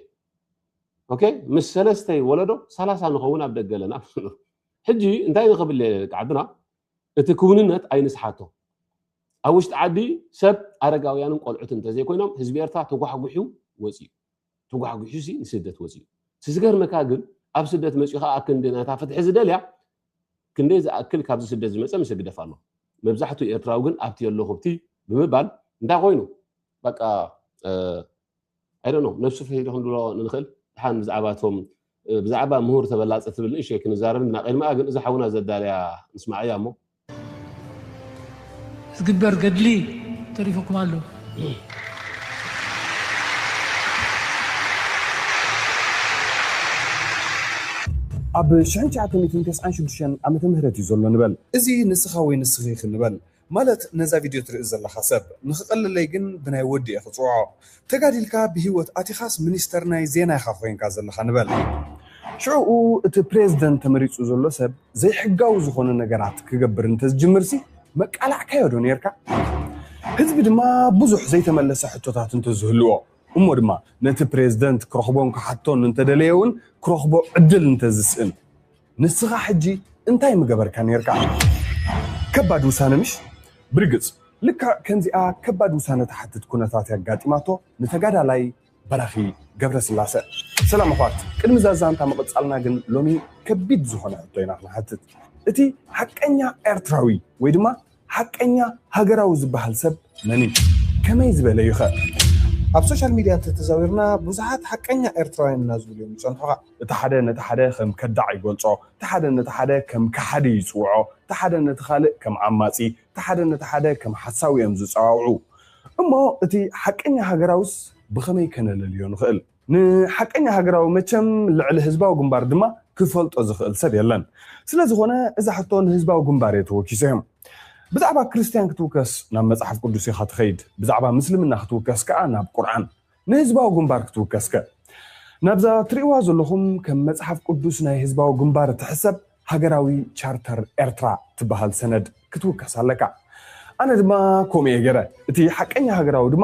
ኦኬ ምስ ሰለስተይ ወለዶ ሰላሳ ንኸውን ኣብ ደገ ኣለና ሕጂ እንታይ ንክብል ደቂ ዓድና እቲ ክውንነት ኣይንስሓቶ ኣብ ውሽጢ ዓዲ ሰብ ኣረጋውያንን ቆልዑት እንተዘይኮይኖም ህዝቢ ኤርትራ ተጓሕጉሑ ወፂኡ ተጓሕጒሑሲ ንስደት ወጺኡ። እቲ ዝገርመካ ግን ኣብ ስደት መጺኡ ከኣ ኣክንዲ ናታ ፍትሒ ዝደልያ ክንደይ ዝኣክል ካብዚ ስደት ዝመጸ ምስ ህግደፍ ኣሎ። መብዛሕትኡ ኤርትራዊ ግን ኣብቲ የለኹብቲ ብምባል እንታይ ኮይኑ በቃ ኣይ ዶንት ኖው ነብሱ ፍሒቱ ክንብሎ ንንኽእል። ድሓን ብዛዕባ እቶም ብዛዕባ ምሁር ተበላጺ ትብል ንእሽቶ ኣይክንዛረብን ኢና ቅድሚኣ ግን እዛ ሓውና ዘዳልያ ንስማዓያ እሞ። ዝግበር ገድሊ ተሪፉኩም ኣሎ። ኣብ ሽሕን ትሽዓተ ሚእትን ተስዓን ሽዱሽተን ዓመተ ምህረት እዩ ዘሎ ንበል። እዚ ንስኻ ወይ ንስኺ ኢኺ ንበል። ማለት ነዛ ቪድዮ ትርኢ ዘለኻ ሰብ። ንኽቐለለይ ግን ብናይ ወዲ እየ ክጽውዖ። ተጋዲልካ ብሂወት ኣቲኻስ ሚኒስተር ናይ ዜና ኢኻ ኮይንካ ዘለኻ ንበል። ሽዕኡ እቲ ፕሬዝደንት ተመሪጹ ዘሎ ሰብ ዘይሕጋዊ ዝኾነ ነገራት ክገብር እንተዝጅምርሲ መቃላዕካዮ ዶ ኔርካ? ህዝቢ ድማ ብዙሕ ዘይተመለሰ ሕቶታት እንተዝህልዎ እሞ ድማ ነቲ ፕሬዝደንት ክረኽቦን ክሓቶን እንተደለየ ውን ክረኽቦ ዕድል እንተዝስእን። ንስኻ ሕጂ እንታይ ምገበርካ ኔርካ? ከባድ ውሳነ ምሽ? ብርግጽ ልክዕ ከምዚኣ ከባድ ውሳነ ትሓትት ኩነታት እያ ኣጋጢማቶ ንተጋዳላይ በራኺ ገብረስላሰ። ሰላም ኣሕዋት ቅድሚ እዛ ዛንታ ምቕጻልና ግን ሎሚ ከቢድ ዝኾነ ሕቶ ኢና ክንሓትት። እቲ ሓቀኛ ኤርትራዊ ወይ ድማ ሓቀኛ ሃገራዊ ዝበሃል ሰብ መን እዩ? ከመይ ዝበለ እዩ ከ? ኣብ ሶሻል ሚድያ እንተተዛዊርና ብዙሓት ሓቀኛ ኤርትራውያን ኢና ዝብሉ እዮም ዝጸንሑኻ። እቲ ሓደ ነቲ ሓደ ከም ከዳዕ ይገልጾ፣ እቲ ሓደ ነቲ ሓደ ከም ከሓዲ ይጽውዖ፣ እቲ ሓደ ነቲ ካልእ ከም ዓማጺ፣ እቲ ሓደ ነቲ ሓደ ከም ሓሳዊ እዮም ዝጸዋውዑ። እሞ እቲ ሓቀኛ ሃገራዊስ ብኸመይ ከነለልዮ ንኽእል? ንሓቀኛ ሃገራዊ መቸም ልዕሊ ህዝባዊ ግንባር ድማ ክፈልጦ ዝኽእል ሰብ የለን። ስለ ዝኾነ እዛ ሕቶ ንህዝባዊ ግንባር እየ ተወኪሰ እም። ብዛዕባ ክርስትያን ክትውከስ ናብ መጽሓፍ ቅዱስ ኢኻ ትኸይድ፣ ብዛዕባ ምስልምና ክትውከስ ከኣ ናብ ቁርዓን። ንህዝባዊ ግንባር ክትውከስከ? ናብዛ ትርእይዋ ዘለኹም ከም መጽሓፍ ቅዱስ ናይ ህዝባዊ ግንባር እትሕሰብ ሃገራዊ ቻርተር ኤርትራ ትበሃል ሰነድ ክትውከስ ኣለካ። ኣነ ድማ ከምኡ እየ ገይረ። እቲ ሓቀኛ ሃገራዊ ድማ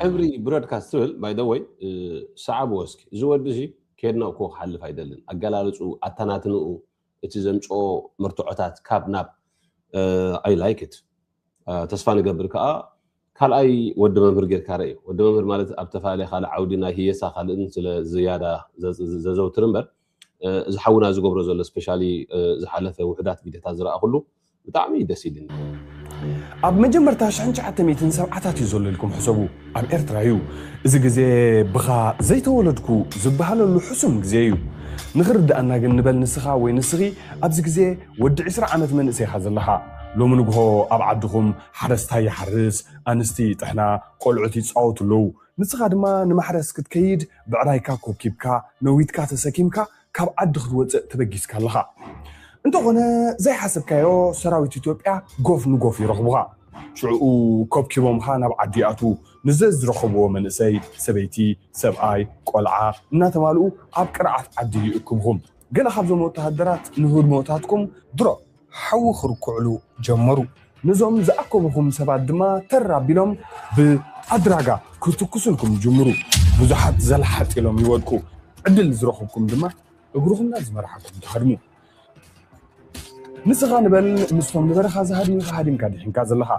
ሕብሪ ብሮድካስት ትብል ባይ ዘ ወይ ሰዓብዎ እስኪ እዚ ወዲ እዚ ኬድና እኮ ክሓልፍ ኣይደልን ኣገላልፅኡ ኣተናትንኡ እቲ ዘምፅኦ መርትዖታት ካብ ናብ ኣይ ላይክ ኢት ተስፋ ንገብር ከዓ ካልኣይ ወዲ መምህር ጌርካ ርእ ወዲ መምህር ማለት ኣብ ተፈላለየ ካልእ ዓውዲ ናይ ህየሳ ካልእን ስለ ዝያዳ ዘዘውትር እምበር እዚ ሓውና ዝገብሮ ዘሎ ስፔሻሊ ዝሓለፈ ውሕዳት ቪድዮታት ዝረኣኹሉ ብጣዕሚ ደስ ኢልኒ። ኣብ መጀመርታ ሽሕን ትሽዓተ ሚእትን ሰብዓታት እዩ ዘሎ ኢልኩም ሕሰቡ። ኣብ ኤርትራ እዩ። እዚ ግዜ ብኻ ዘይተወለድኩ ዝበሃለሉ ሕሱም ግዜ እዩ። ንኽርድኣና ግን ንበል ንስኻ ወይ ንስኺ ኣብዚ ግዜ ወዲ ዕስራ ዓመት መንእሰይ ኢኻ ዘለኻ። ሎሚ ንግሆ ኣብ ዓድኹም ሓረስታይ ይሓርስ፣ ኣንስቲ ይጥሕና፣ ቆልዑት ይጻወቱ ኣለዉ። ንስኻ ድማ ንማሕረስ ክትከይድ ብዕራይካ ኮብኪብካ፣ ነዊትካ ተሰኪምካ ካብ ዓዲ ክትወጽእ ተበጊስካ ኣለኻ። እንተኾነ ዘይሓሰብካዮ ሰራዊት ኢትዮጵያ ጎፍ ንጎፍ ይረኽቡኻ። ሽዑኡ ኮብኪቦምኻ ናብ ዓዲ ይኣትዉ። ንዘዝረኸብዎ መንእሰይ፣ ሰበይቲ፣ ሰብኣይ፣ ቆልዓ እናተማልኡ ኣብ ቅርዓት ዓዲ ይእክቡኹም። ገለ ካብዞም ወተሃደራት ንህድሞታትኩም ድሮፕ! ሓዊ ክርኩዕሉ ጀመሩ። ነዞም ዝኣከቡኩም ሰባት ድማ ተር ኣቢሎም ብኣድራጋ ክትኩሱልኩም ይጅምሩ። ብዙሓት ዘልሓጥ ኢሎም ይወድቁ። ዕድል ዝረኹብኩም ድማ እግርኹም ናብ ዝመርሓኩም ትሃድሙ። ንስኻ ንበል ምስቶም ንበረኻ ዝሃድሙኻ ሃዲምካ ድሒንካ ዘለኻ።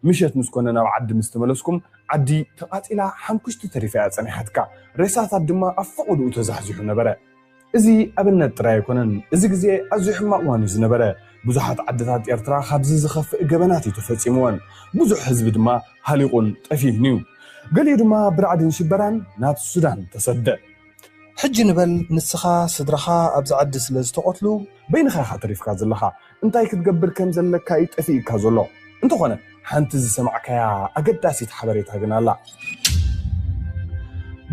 ምሸት ምስ ኮነ ናብ ዓዲ ምስ ተመለስኩም ዓዲ ተቓጺላ ሓምኩሽቲ ተሪፋ'ያ ጸኒሓትካ። ሬሳታት ድማ ኣብ ፈቖድኡ ተዛሕዚሑ ነበረ። እዚ ኣብነት ጥራይ ኣይኮነን፣ እዚ ግዜ ኣዝዩ ሕማቕ እዋን እዩ ዝነበረ። ብዙሓት ዓድታት ኤርትራ ካብዚ ዝኸፍእ ገበናት እዩ ተፈጺምወን። ብዙሕ ህዝቢ ድማ ሃሊቑን ጠፊኡን እዩ። ገሊኡ ድማ ብራዕድን ሽበራን ናብ ሱዳን ተሰደ። ሕጂ ንበል ንስኻ ስድራኻ ኣብዚ ዓዲ ስለ ዝተቐትሉ በይንኻ ኢኻ ተሪፍካ ዘለኻ። እንታይ ክትገብር ከም ዘለካ እዩ ጠፊኡካ ዘሎ። እንተኾነ ሓንቲ ዝሰማዕካያ ኣገዳሲት ሓበሬታ ግን ኣላ።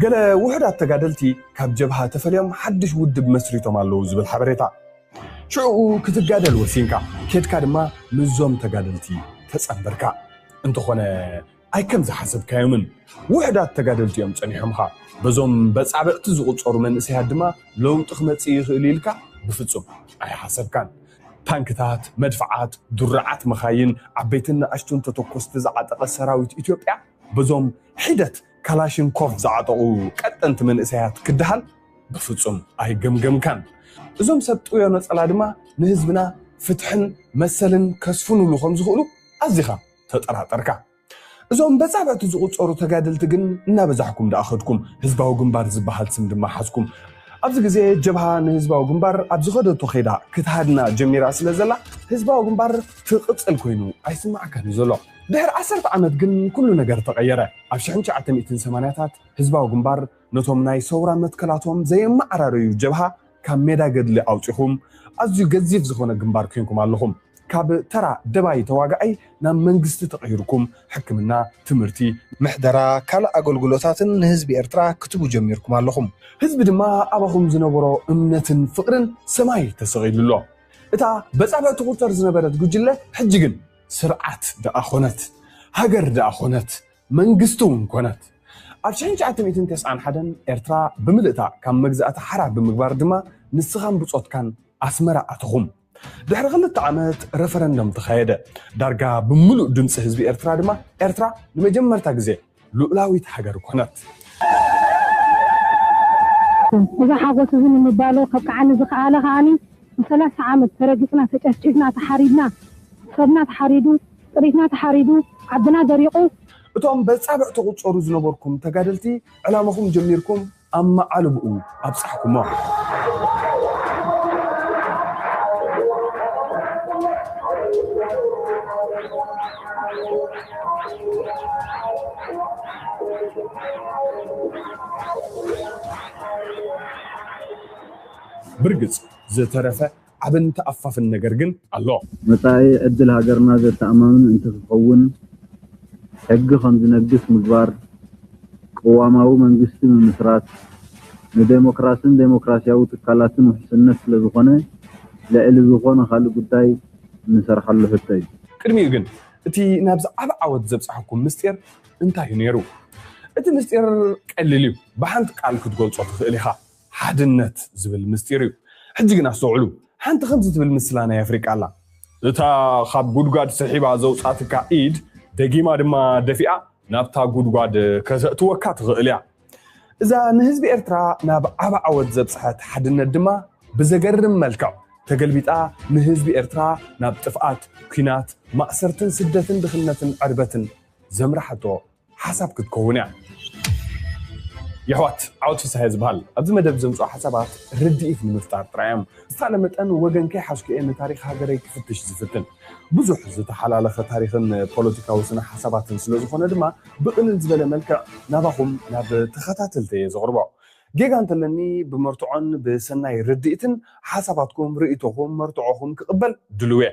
ገለ ውሑዳት ተጋደልቲ ካብ ጀብሃ ተፈልዮም ሓድሽ ውድብ መስሪቶም ኣለዉ ዝብል ሓበሬታ። ሽዑኡ ክትጋደል ወሲንካ። ኬድካ ድማ ምስዞም ተጋደልቲ ተጸንበርካ። እንተኾነ ኣይከም ዝሓሰብካዮምን ውሕዳት ተጋደልቲ እዮም ጸኒሖምኻ፣ በዞም በጻብዕቲ ዝቑጸሩ መንእሰያት ድማ ለውጢ ክመጽእ ይኽእል'ዩ ኢልካ ብፍጹም ኣይሓሰብካን። ታንክታት፣ መድፍዓት፣ ድሩዓት መኻይን፣ ዓበይትን ንኣሽቱን ተተኮስቲ ዝዓጠቐ ሰራዊት ኢትዮጵያ በዞም ሒደት ካላሽንኮቭ ዝዓጠቑ ቀጠንቲ መንእሰያት ክደሃል ብፍጹም ኣይገምገምካን። እዞም ሰብ ጥውዮ ነጸላ ድማ ንህዝብና ፍትሕን መሰልን ከስፍኑሉ ከም ዝኽእሉ ኣዚኻ ተጠራጠርካ። እዞም በጻብዕቲ ዝቑጸሩ ተጋደልቲ ግን እናበዛሕኩም ደኣ ከድኩም፣ ህዝባዊ ግንባር ዝበሃል ስም ድማ ሓዝኩም። ኣብዚ ግዜ ጀብሃ ንህዝባዊ ግንባር ኣብ ዝኸደቶ ከይዳ ክትሃድና ጀሚራ ስለ ዘላ ህዝባዊ ግንባር ትቕጽል ኮይኑ ኣይስማዓካን እዩ ዘሎ። ድሕሪ ዓሰርተ ዓመት ግን ኩሉ ነገር ተቐየረ። ኣብ ሽሕን ትሽዓተ ሚእትን ሰማንያታት ህዝባዊ ግንባር ነቶም ናይ ሰውራ መትከላቶም ዘየመዓራረዩ ጀብሃ ካብ ሜዳ ገድሊ ኣውጺኹም ኣዝዩ ገዚፍ ዝኾነ ግንባር ኴንኩም ኣለኹም። ካብ ተራ ደባይ ተዋጋኣይ ናብ መንግስቲ ተቐይርኩም ሕክምና፣ ትምህርቲ፣ ምሕደራ ካልእ ኣገልግሎታትን ንህዝቢ ኤርትራ ክትቡ ጀሚርኩም ኣለኹም። ህዝቢ ድማ ኣባኹም ዝነበሮ እምነትን ፍቕርን ሰማይ ተሰቒሉ ኣሎ። እታ በጻብዕ ትቑጸር ዝነበረት ጉጅለ ሕጂ ግን ስርዓት ደኣ ኮነት ሃገር ደኣ ኮነት መንግስቱ ኮነት። ኣብ ሽሕን ትሽዓተ ሚእትን ተስዓን ሓደን ኤርትራ ብምልእታ ካብ መግዛእቲ ሓራ ብምግባር ድማ ንስኻን ብጾትካን ኣስመራ ኣተኹም። ድሕሪ ክልተ ዓመት ረፈረንደም ተኻየደ። ዳርጋ ብምሉእ ድምጺ ህዝቢ ኤርትራ ድማ ኤርትራ ንመጀመርታ ግዜ ልኡላዊት ሃገር ኮነት። እዚ ሓጎስ እዚ ንምባሎ ከብቅዓኒ ዝኸኣለ ከኣ ንሰላሳ ዓመት ተረጊጽና ተጨፍጪፍና ተሓሪድና ሰብና ተሓሪዱ፣ ጥሪትና ተሓሪዱ፣ ዓድና ደሪቑ። እቶም በጻብዕ ትቑጸሩ ዝነበርኩም ተጋደልቲ ዕላማኹም ጀሚርኩም ኣብ መዓልብኡ ኣብጻሕኩሞ። ብርግጽ ዝተረፈ ዓብን ተኣፋፍን ነገር ግን ኣሎ። መጻኢ ዕድል ሃገርና ዘተኣማምን እንትክኸውን ሕጊ ከምዝነግስ ምግባር፣ ቅዋማዊ መንግስቲ ምምስራት፣ ንደሞክራስን ደሞክራሲያዊ ትካላትን ውሕስነት ስለዝኾነ ልዕሊ ዝኾነ ካልእ ጉዳይ እንሰርሓሉ ሕቶ እዩ። ቅድሚኡ ግን እቲ ናብዚ ዓቢ ዓወት ዘብጸሐኩም ምስጢር እንታይ እዩ ነይሩ? እቲ ምስጢር ቀሊል እዩ፣ ብሓንቲ ቃል ክትገልጾ ትኽእል ኢኻ። ሓድነት ዝብል ምስጢር እዩ። ሕጂ ግን ኣስተውዕሉ፣ ሓንቲ ከምዚ ትብል ምስላ ናይ ኣፍሪቃ ኣላ። እታ ካብ ጉድጓድ ስሒባ ዘውጻትካ ኢድ ደጊማ ድማ ደፊኣ ናብታ ጉድጓድ ከተእትወካ ትኽእል እያ። እዛ ንህዝቢ ኤርትራ ናብ ዓቢ ዓወት ዘብጽሐት ሓድነት ድማ ብዘገርም መልክዕ ተገልቢጣ ንህዝቢ ኤርትራ ናብ ጥፍኣት፣ ኲናት፣ ማእሰርትን ስደትን ድኽነትን ዕርበትን ዘምራሓቶ ሓሳብ ክትከውን እያ የሕዋት ዓወት ፍስሃየ ዝበሃል ኣብዚ መደብ ዘምፅኦ ሓሳባት ርድኢት ንምፍጣር ጥራይ እዮም ብዝተኻለ መጠን ወገን ከይሓዝኩ እየ ንታሪኽ ሃገረይ ክፍትሽ ዝፍትን ብዙሕ ዝተሓላለኸ ታሪኽን ፖለቲካዊ ስነ ሓሳባትን ስለዝኾነ ድማ ብቕልል ዝበለ መልክዕ ናባኹም ናብ ተኸታተልተይ እየ ዘቕርቦ ጌጋ እንተለኒ ብመርትዖን ብሰናይ ርድኢትን ሓሳባትኩም ርእይቶኹም መርትዖኹም ክቕበል ድሉው እየ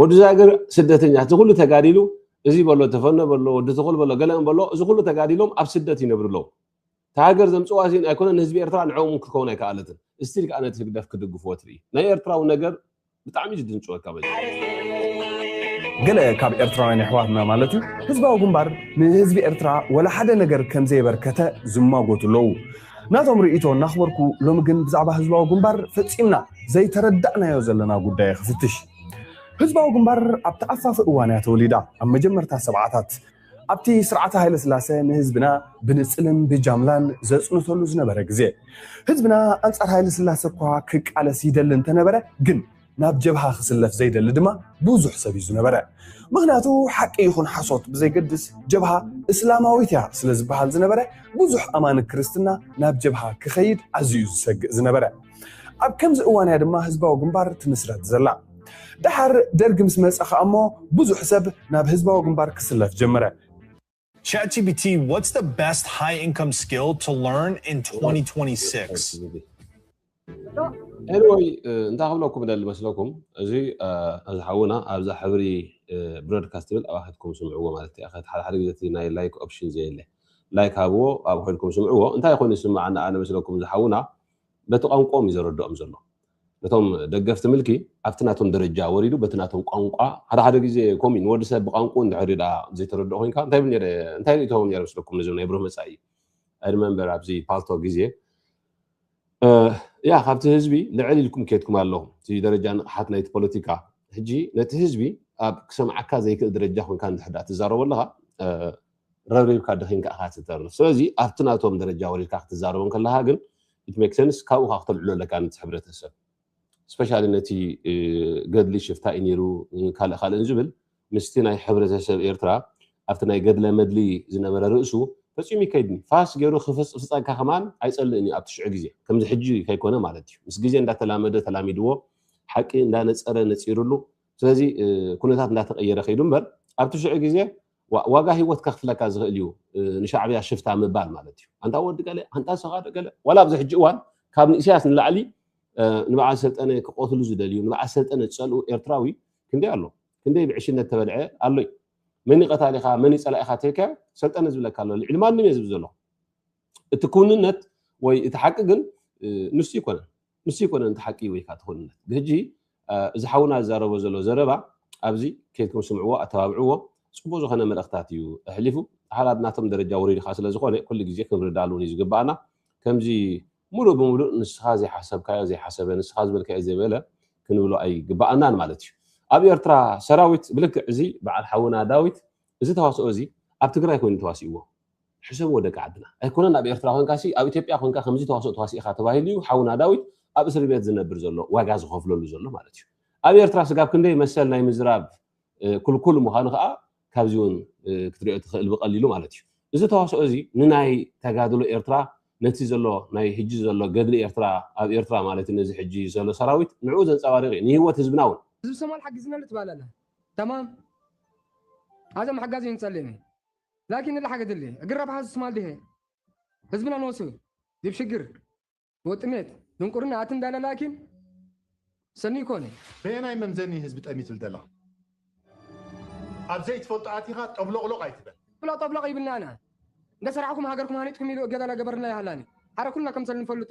ወዲ ዛግር ስደተኛ እቲ ኩሉ ተጋዲሉ እዚ በሎ ተፈኖ በሎ ወዲ ትኹል በሎ ገለ በሎ እዚ ኩሉ ተጋዲሎም ኣብ ስደት ይነብሩ ኣለዉ እታ ሃገር ዘምጽዋ እዚን ኣይኮነን ንህዝቢ ኤርትራ ንዕኦም እውን ክትከውን ኣይከኣለትን እስቲል ከኣ ነቲ ህግደፍ ክድግፍዎ ትርኢ ናይ ኤርትራዊ ነገር ብጣዕሚ እዩ ዝድንጽወካ ገለ ካብ ኤርትራውያን ኣሕዋትና ማለት እዩ ህዝባዊ ግንባር ንህዝቢ ኤርትራ ወላ ሓደ ነገር ከም ዘየበርከተ ዝማጎቱ ኣለዉ ናቶም ርእይቶ እናኽበርኩ ሎሚ ግን ብዛዕባ ህዝባዊ ግንባር ፈጺምና ዘይተረዳእናዮ ዘለና ጉዳይ እየ ክፍትሽ። ህዝባዊ ግንባር ኣብ ተኣፋፊ እዋን እያ ተወሊዳ፣ ኣብ መጀመርታ ሰብዓታት። ኣብቲ ስርዓተ ሃይለስላሰ ንህዝብና ብንጽልን ብጃምላን ዘጽንተሉ ዝነበረ ግዜ። ህዝብና ኣንጻር ሃይለስላሰ እኳ ክቃለስ ይደሊ እንተነበረ ግን ናብ ጀብሃ ክስለፍ ዘይደሊ ድማ ብዙሕ ሰብ እዩ ዝነበረ። ምክንያቱ ሓቂ ይኹን ሓሶት ብዘይገድስ ጀብሃ እስላማዊት እያ ስለ ዝበሃል ዝነበረ ብዙሕ ኣማኒ ክርስትና ናብ ጀብሃ ክኸይድ ኣዝዩ እዩ ዝሰግእ ዝነበረ። ኣብ ከምዚ እዋን እያ ድማ ህዝባዊ ግንባር ትምስረት ዘላ። ደሓር ደርጊ ምስ መጸ ከኣ እሞ ብዙሕ ሰብ ናብ ህዝባዊ ግንባር ክስለፍ ጀመረ። ChatGPT, what's the best high income skill to learn in 2026? ኤኒወይ እንታይ ክብለኩም ደሊ መስለኩም እዚ እዚ ሓውና ኣብዛ ሕብሪ ብሮድካስት ትብል ኣብኣ ከድኩም ስምዕዎ ማለት እዩ ሓደ ሓደ ግዜ እቲ ናይ ላይክ ኦፕሽን ዘየለ ላይክ ሃብዎ ኣብ ኮይንኩም ስምዕዎ እንታይ ኮይኑ ይስምዓኒ ኣነ መስለኩም ዝሓውና በቲ ቋንቋኦም እዩ ዘረድኦም ዘሎ። ነቶም ደገፍቲ ምልኪ ኣብቲ ናቶም ደረጃ ወሪዱ በቲ ናቶም ቋንቋ ሓደ ሓደ ግዜ ከምኡ እዩ ንወዲ ሰብ ብቋንቁኡ እንድሕሪ ደኣ ዘይተረድኦ ኮይንካ እንታይ ብል ነይረ እንታይ ይትኸውን ነይረ ምስለኩም ነዚ ናይ ብሩህ መጻኢ I remember ኣብዚ ፓልቶ ግዜ ያ ካብቲ ህዝቢ ልዕል ኢልኩም ኬድኩም ኣለኹም እቲ ደረጃ ንቕሓት ናይቲ ፖለቲካ ሕጂ ነቲ ህዝቢ ኣብ ክሰምዓካ ዘይክእል ደረጃ ኮይንካ እንድሕሪ ደኣ ትዛረቦ ኣለኻ ረብሪብካ ደኺምካ ኢኻ ትተርፍ ስለዚ ኣብቲ ናቶም ደረጃ ወሪድካ ክትዛረቦም ከለኻ ግን it makes sense ካብኡ ከኣ ክተልዕሎ ኣለካ ነቲ ሕብረተሰብ ስፔሻሊ ነቲ ገድሊ ሽፍታ እዩ ነይሩ ካልእ ካልእን ዝብል ምስቲ ናይ ሕብረተሰብ ኤርትራ ኣብቲ ናይ ገድለ መድሊ ዝነበረ ርእሱ ፈፂሙ ይከይድኒ ፋስ ገይሩ ክፍፅፍፀካ ከማን ኣይፀልእን እዩ ኣብቲ ሽዑ ግዜ ከምዚ ሕጂ ከይኮነ ማለት እዩ ምስ ግዜ እንዳተላመደ ተላሚድዎ ሓቂ እንዳነፀረ ነፂሩሉ ስለዚ ኩነታት እንዳተቀየረ ከይዱ እምበር ኣብቲ ሽዑ ግዜ ዋእ ዋጋ ሂወት ከክፍለካ ዝክእል እዩ ንሻዕብያ ሽፍታ ምባል ማለት እዩ ኣንታ ወዲ ገለ ኣንታ ንስካ ዶ ገለ ዋላ ኣብዚ ሕጂ እዋን ካብ ንእስያስ ንላዕሊ ንበዓል ሰልጠነ ክቆትሉ ዝደልዩ ንበዓል ሰልጠነ ዝጸልኡ ኤርትራዊ ክንደይ ኣሎ ክንደይ ብዕሽነት ተበልዐ ኣሎ እዩ መን እዩ ቀታሊካ መን እዩ ጸላኢካ ተልካዮ ሰልጠነ ዝብለካ ኣሎ ልዕሊ ማንም እየ ዝብል ዘለኩ እቲ ክውንነት ወይ እቲ ሓቂ ግን ንሱ ይኮነን ንሱ ይኮነን እቲ ሓቂ ወይ ከዓ ትክውንነት ብሕጂ እዚ ሓውና ዝዛረቦ ዘሎ ዘረባ ኣብዚ ከይድኩም ስምዕዎ ኣተባብዕዎ ፅቡቅ ዝኮነ መልእክታት እዩ ኣሕሊፉ ሓላ ናቶም ደረጃ ወሪዱ ከዓ ስለዝኮነ ኩሉ ግዜ ክንርዳሉ እውን እዩ ዝግባኣና ከምዚ ሙሉእ ብሙሉእ ንስኻ ዘይሓሰብካዮ ዘይሓሰበ ንስኻ ዝበልካዮ ዘይበለ ክንብሎ ኣይግባኣናን ማለት እዩ ኣብ ኤርትራ ሰራዊት ብልክዕ እዚ በዓል ሓውና ዳዊት እዚ ተዋስኦ እዚ ኣብ ትግራይ ኮይኑ ተዋሲእዎ ሕሰብዎ ደቂ ዓድና ኣይኮነን ኣብ ኤርትራ ኮንካሲ ኣብ ኢትዮጵያ ኮንካ ከምዚ ተዋስኦ ተዋሲእኻ ተባሂሉ እዩ ሓውና ዳዊት ኣብ እስርቤት ዝነብር ዘሎ ዋጋ ዝኸፍለሉ ዘሎ ማለት እዩ ኣብ ኤርትራ ስጋብ ክንደይ መሰል ናይ ምዝራብ ክልኩል ምዃኑ ከኣ ካብዚ እውን ክትሪኦ ትኽእል ብቀሊሉ ማለት እዩ እዚ ተዋስኦ እዚ ንናይ ተጋድሎ ኤርትራ ነቲ ዘሎ ናይ ሕጂ ዘሎ ገድሊ ኤርትራ ኣብ ኤርትራ ማለት እዩ ነዚ ሕጂ ዘሎ ሰራዊት ንዕኡ ዘንጸባርቕ እዩ ንህይወት ህዝብና እውን ዝብሰማል ሓጊዝናሉ ትባላላ ተማም ኣዞም ሓጋዚ ንጸልእም። ላኪን እላ ሓገ ድሌ እግር ረብሓ ህዝብ ስማል ድሄ ህዝብና ኖሱ ዲብ ሽግር ወጥሜት ድንቁርና ኣትን ዳለ ላኪን ሰኒ ኢኮነ። በየናይ መምዘኒ ህዝቢ ጠሚትል ደለኻ ኣብ ዘይትፈልጦ ኣቲኻ ጠብሎቕሎቕ ኣይትበል። ብሎ ጠብሎቕ ይብልና ኣና እንደ ሰራሕኩም ሃገርኩም ሃኒጽኩም ኢሉ እገዛ ለገበርልና ይሃላኒ ሓረ ኩልና ከምሰል ንፈልጡ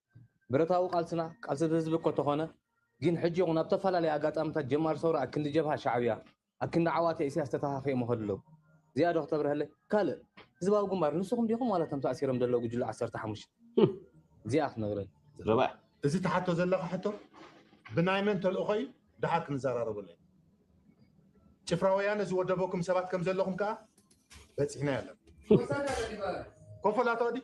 ብረታዊ ቃልስና ቃልሲ ህዝቢ እኮ ተኾነ ጊን ሕጂ ይኹን ኣብ ተፋላለየ ኣጋጣምታት ጀማሪ ሰውራ ኣክንዲ ጀብሃ ሻዕብያ ኣክንዲ ዓዋተ ኢሰያስ ተታኻኺኦም ይኸዱ ኣለዉ እዚኣ ዶ ክተብረሀለይ ካልእ ህዝባዊ ግንባር ንስኹም ዲኹም ዋላ እቶም ተኣሲሮም ዘለዉ ጉጅለ ዓሰርተ ሓሙሽተ እዚኣ ክትነግረኒ ዘረባ እዩ። እዚ ትሓቶ ዘለኻ ሕቶ ብናይ መን ተልእኾ እዩ ድሓር ክንዘራረበሉ ኢና። ጭፍራ ወያነ ዝወደበኩም ሰባት ከምዘለኹም ከኣ በጺሕናዮ ኣለና። ኮፈላቶ ድዩ?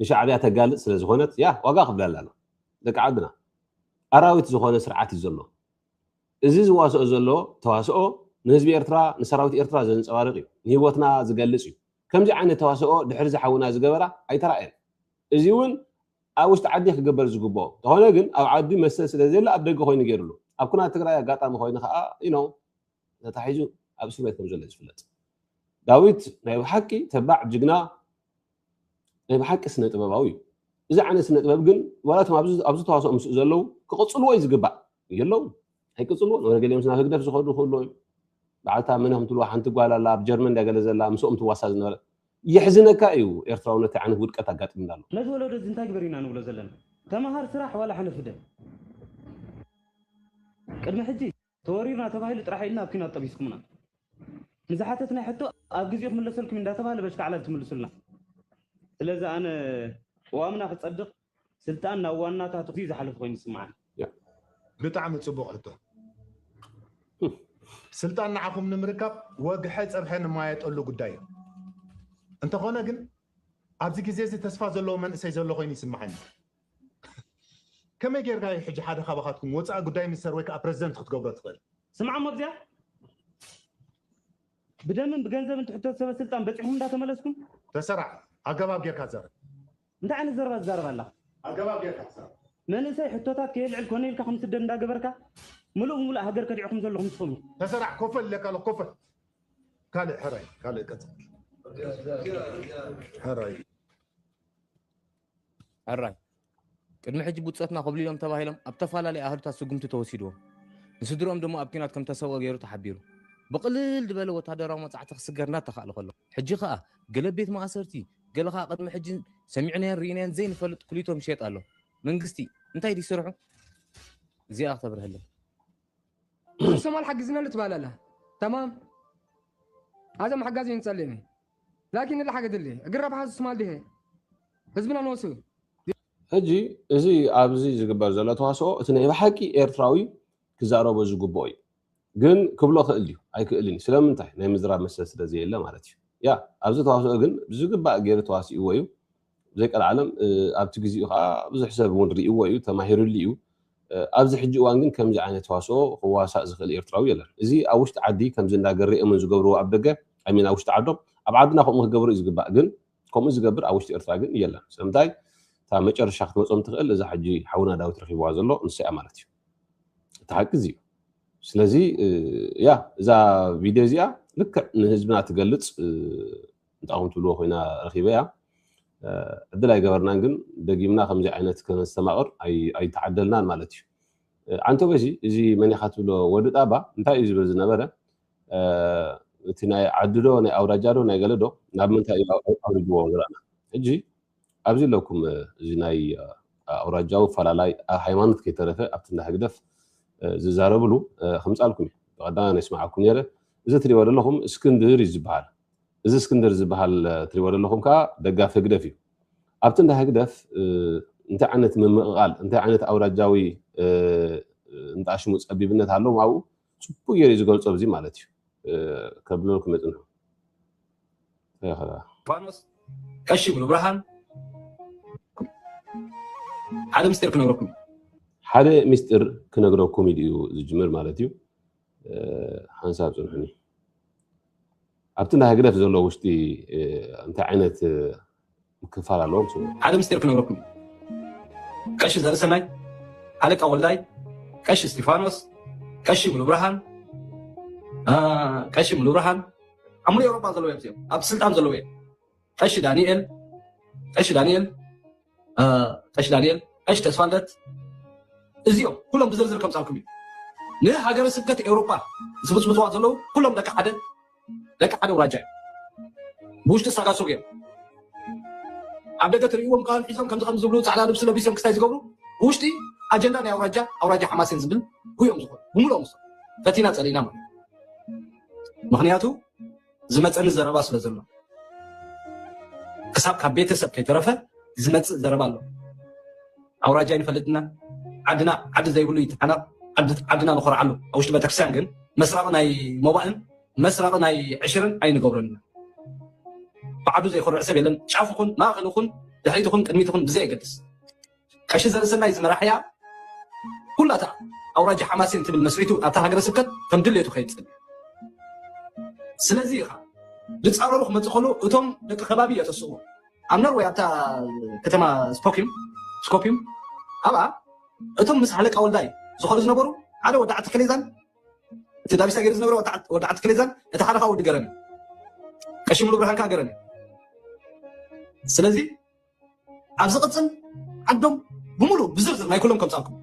ንሻዕብያ ተጋልጽ ስለ ዝኾነት ያህ ዋጋ ክፍላ ኣላና ደቂ ዓድና ኣራዊት ዝኾነ ስርዓት እዩ ዘሎ እዚ ዝዋስኦ ዘሎ ተዋስኦ ንህዝቢ ኤርትራ ንሰራዊት ኤርትራ ዘንጸባርቅ እዩ ንሂወትና ዝገልጽ እዩ ከምዚ ዓይነት ተዋስኦ ድሕሪ ዝሓውና ዝገበራ ኣይተራእየን እዚ እውን ኣብ ውሽጢ ዓዲ ክግበር ዝግብኦ ተኾነ ግን ኣብ ዓዲ መሰል ስለ ዘየለ ኣብ ደገ ኮይኑ ገይርሉ ኣብ ኩናት ትግራይ ኣጋጣሚ ኮይኑ ከዓ ኢኖ ተታሒዙ ኣብ እስር ቤት ከም ዘሎ ዝፍለጥ ዳዊት ናይ ብሓቂ ተባዕ ጅግና ናይ ብሓቂ ስነ ጥበባዊ እዩ እዚ ዓይነት ስነ ጥበብ ግን ዋላ እቶም ኣብዚ ተዋስኦ ምስኡ ዘለዉ ክቕፅልዎ እዩ ዝግባእ የለውን ኣይቅፅልዎን ወረ ገሊኦም ናብ ህግደፍ ዝኸዱ ክህሉ እዮም በዓልታ መን ከም ትብልዋ ሓንቲ ጓል ኣላ ኣብ ጀርመን ዳ ገለ ዘላ ምስኦም ትዋሳ ዝነበረ የሕዝነካ እዩ ኤርትራውነት ዓይነት ውድቀት ኣጋጢምና ኣሎ ነዚ ወለዶ እዚ እንታይ ግበር ኢና ንብሎ ዘለና ተምሃር ስራሕ ዋላ ሕነ ፍደ ቅድሚ ሕጂ ተወሪርና ተባሂሉ ጥራሕ ኢልና ኣብ ኩናት ጠቢስኩምና ንዝሓተትናዮ ሕቶ ኣብ ግዜኡ ክምለሰልኩም እንዳተባህለ በሽካዕላል ትምልሱልና ስለዚ ኣነ ቅዋምና ክጸድቕ ስልጣን ናብ ዋናታቱ ክዝዩ ዝሓለፈ ኮይኑ ይስምዓኒ። ብጣዕሚ ጽቡቕ ሕቶ ስልጣን ንዓኹም ንምርካብ ወግሐ ጸብሐ ንማየጠሉ ጉዳይ እዩ እንተኾነ ግን ኣብዚ ግዜ እዚ ተስፋ ዘለዎ መንእሰይ ዘሎ ኮይኑ ይስምዓኒ። ከመይ ጌርካ እዩ ሕጂ ሓደ ካባኻትኩም ወጻኢ ጉዳይ ሚኒስተር ወይ ከኣ ፕረዚደንት ክትገብሮ ትኽእል? ስምዓሞ ኣብዚኣ ብደምን ብገንዘብን ትሕተቱ ሰበ ስልጣን በጺሕኩም እንዳ ተመለስኩም። ተሰራዕ ኣገባብ ጌርካ ዘረብ። እንታይ ዓይነት ዘረባ ትዛረብ ኣለኻ? ኣገባብ ጌርካ ተዛረብ። መንእሰይ ሕቶታት ከየልዕል ኮነ ኢልካ ከምስደድ እንዳ ገበርካ ምሉእ ብምሉእ ሃገር ከዲዕኩም ዘለኹም ትኽብሩ። ተሰራዕ ኮፈል ኢለካ ኣለኹ ኮፈል። ካልእ ሕራይ ካልእ ቀጽል ሕራይ። ሕራይ ቅድሚ ሕጂ ብጾትና ኮብሊሎም ተባሂሎም ኣብ ተፈላለየ ኣህዱታት ስጉምቲ ተወሲድዎም ንስድርኦም ድማ ኣብ ኲናት ከም ተሰውኦ ገይሩ ተሓቢሩ ብቕልል ዝበለ ወታደራዊ መጻዕቲ ክስገር እናተኻእለ ከሎ ሕጂ ከኣ ገለ ቤት ማእሰርቲ ገለ ከኣ ቅድሚ ሕጂ ሰሚዕናዮን ርኢናዮን ዘይንፈልጥ ኩሊቶም ይሸጥ ኣሎ መንግስቲ እንታይ ድዩ ስርሑ እዚኣ ክተብርሀለይ ሶማል ሓግዝና ኣሎ ትባላላ ተማም ኣዘም ሓጋዝ እዩ ንጸልእ ላኪን እሊ ሓገ ድሊ እግር ረብሓ ዝስማል ድሄ ህዝብና ንወሱ ሕጂ እዚ ኣብዚ ዝግበር ዘሎ ተዋስኦ እቲ ናይ ብሓቂ ኤርትራዊ ክዛረቦ ዝግብኦ እዩ ግን ክብሎ ክእል ድዩ ኣይክእልን እዩ ስለምንታይ ናይ ምዝራብ መሰል ስለ ዘየለ ማለት እዩ ያ ኣብዚ ተዋስኦ ግን ብዝግባእ ገይሩ ተዋሲእዎ እዩ ዘይቀልዓለም ኣብቲ ግዚኡ ከኣ ብዙሕ ሰብ እውን ሪእዎ እዩ ተማሂርሉ እዩ። ኣብዚ ሕጂ እዋን ግን ከምዚ ዓይነት ተዋስኦ ክዋሳእ ዝኽእል ኤርትራዊ የለን። እዚ ኣብ ውሽጢ ዓዲ ከምዚ እንዳ ገሬ እሙን ዝገብርዎ ኣብ ደገ I mean ኣብ ውሽጢ ዓዶም ኣብ ዓድና ከምኡ ክገብሩ እዩ ዝግባእ ግን ከምኡ ዝገብር ኣብ ውሽጢ ኤርትራ ግን የለን ስለምንታይ እታ መጨረሻ ክትመጾም ትኽእል እዛ ሕጂ ሓውና ዳዊት ረኺብዋ ዘሎ ንሳ እያ ማለት እዩ። እቲ ሓቂ እዚ እዩ። ስለዚ ያ እዛ ቪድዮ እዚኣ ልክዕ ንህዝብና ትገልጽ ጣውም ትብልዎ ኮይና ረኪበያ ዕድል ኣይገበርናን ግን ደጊምና ከምዚ ዓይነት ከነስተማቅር ኣይተዓደልናን ማለት እዩ ዓንተቦይ ሲ እዚ መን ኢካ ትብሎ ወዲ ጣባ እንታይ እዩ ዝብል ዝነበረ እቲ ናይ ዓዲ ዶ ናይ ኣውራጃ ዶ ናይ ገለ ዶ ናብ ምንታይ እዩ ኣውሪድዎ ንረኣና ሕጂ ኣብዚ ኣለኩም እዚ ናይ ኣውራጃዊ ፈላላይ ኣብ ሃይማኖት ከይተረፈ ኣብቲ እንዳ ህግደፍ ዝዛረብሉ ከምጻልኩም እዩ ብቀዳማ ናይ ስማዓኩም ነይረ እዚ ትሪእዎ ዘለኹም እስክንድር እዩ ዝበሃል እዚ እስክንድር ዝብሃል ትሪእዎ ዘለኹም ከኣ ደጋፊ ህግደፍ እዩ። ኣብቲ እንዳ ህግደፍ እንታይ ዓይነት ምምቕቓል እንታይ ዓይነት ኣውራጃዊ እንጣሽሙ ጸቢብነት ኣለዎም ኣብኡ ጽቡቅ ጌሩ እዩ ዝገልጾ ኣብዚ ማለት እዩ ከብለልኩም የጽንሑ ፋኖስ ቀሺ ይብሉ ብርሃን ሓደ ምስጢር ክነግረኩም ሓደ ምስጢር ክነግረኩም ኢሉ እዩ ዝጅምር ማለት እዩ። ሓንሳብ ጽንሑኒ ኣብቲ ናይ ህግደፍ ዘሎ ውሽጢ እንታይ ዓይነት ምክፋል ኣለዎም ስሙ ሓደ ምስጢር ክነግረኩም ቀሺ ዘርእሰናይ ኣለቃ ወልዳይ ቀሺ እስጢፋኖስ ቀሺ ሙሉብርሃን ቀሺ ሙሉብርሃን ኣብ ሙሉ ኤውሮጳ ዘለዉ እዮም እዚኦም ኣብ ስልጣን ዘለዉ እዮም ቀሺ ዳኒኤል ቀሺ ዳኒኤል ቀሺ ዳኒኤል ቀሺ ተስፋልደት እዚኦም ኩሎም ብዝርዝር ከምፃልኩም እዩ ንሃገረ ስብከት ኤውሮጳ ዝብፅብፅዋ ዘለዉ ኩሎም ደቂ ሓደ ደቂ ሓደ ውራጃ እዩ ብውሽጢ ሳጋሱግ እዮም ኣብ ደገ ትርእይዎም ቃል ሒዞም ከምዚ ከም ዝብሉ ፃዕዳ ልብሲ ለቢሶም ክስታይ ዝገብሩ ብውሽጢ ኣጀንዳ ናይ ኣውራጃ ኣውራጃ ሓማሴን ዝብል ጉዮም ዝኾኑ ብምልኦም ፈቲና ፀሊእና ማለት ምክንያቱ ዝመፀኒ ዘረባ ስለ ዘሎ ክሳብ ካብ ቤተሰብ ከይተረፈ ዝመፅእ ዘረባ ኣሎ ኣውራጃ ይንፈልጥና ዓድና ዓዲ ዘይብሉ ይተሓናቕ ዓድና ንኮርዓሉ ኣብ ውሽጢ ቤተክርስትያን ግን መስራቕ ናይ ሞባእን መስራቕ ናይ ዕሽርን ኣይንገብረን ኢና ብዓዱ ዘይኮርዕ ሰብ የለን ጫፍ ኹን ማእኸል ኹን ድሕሪት ኹን ቅድሚት ኹን ብዘየገድስ ቀሺ ዘርእሰናይ ዝመራሕያ ኩላታ ኣውራጃ ሓማሴን ትብል መስሪቱ ናብታ ሃገረ ስብከት ከም ድሌቱ ከይድ ጸልዩ ስለዚ ኢኻ ዝጻረሩ ክመጽእ ከሎ እቶም ደቂ ከባቢ የተስእዎ ኣብ ኖርወይ ኣብታ ከተማ ስፖኪም ስኮፒም ኣብኣ እቶም ምስ ሃለቃ ወልዳይ ዝኾዱ ዝነበሩ ሓደ ወዲ ዓቲ ከሌዛን እቲ ዳቢሳ ገይሩ ዝነበረ ወዲ ዓቲ ከሌዛን እቲ ሓደ ከዓ ወዲ ገረን ቀሺ ሙሉ ብርሃን ከዓ ገረን ስለዚ ኣብ ዝቕፅል ዓዶም ብምሉእ ብዝርዝር ናይ ኩሎም ከምፃልኩም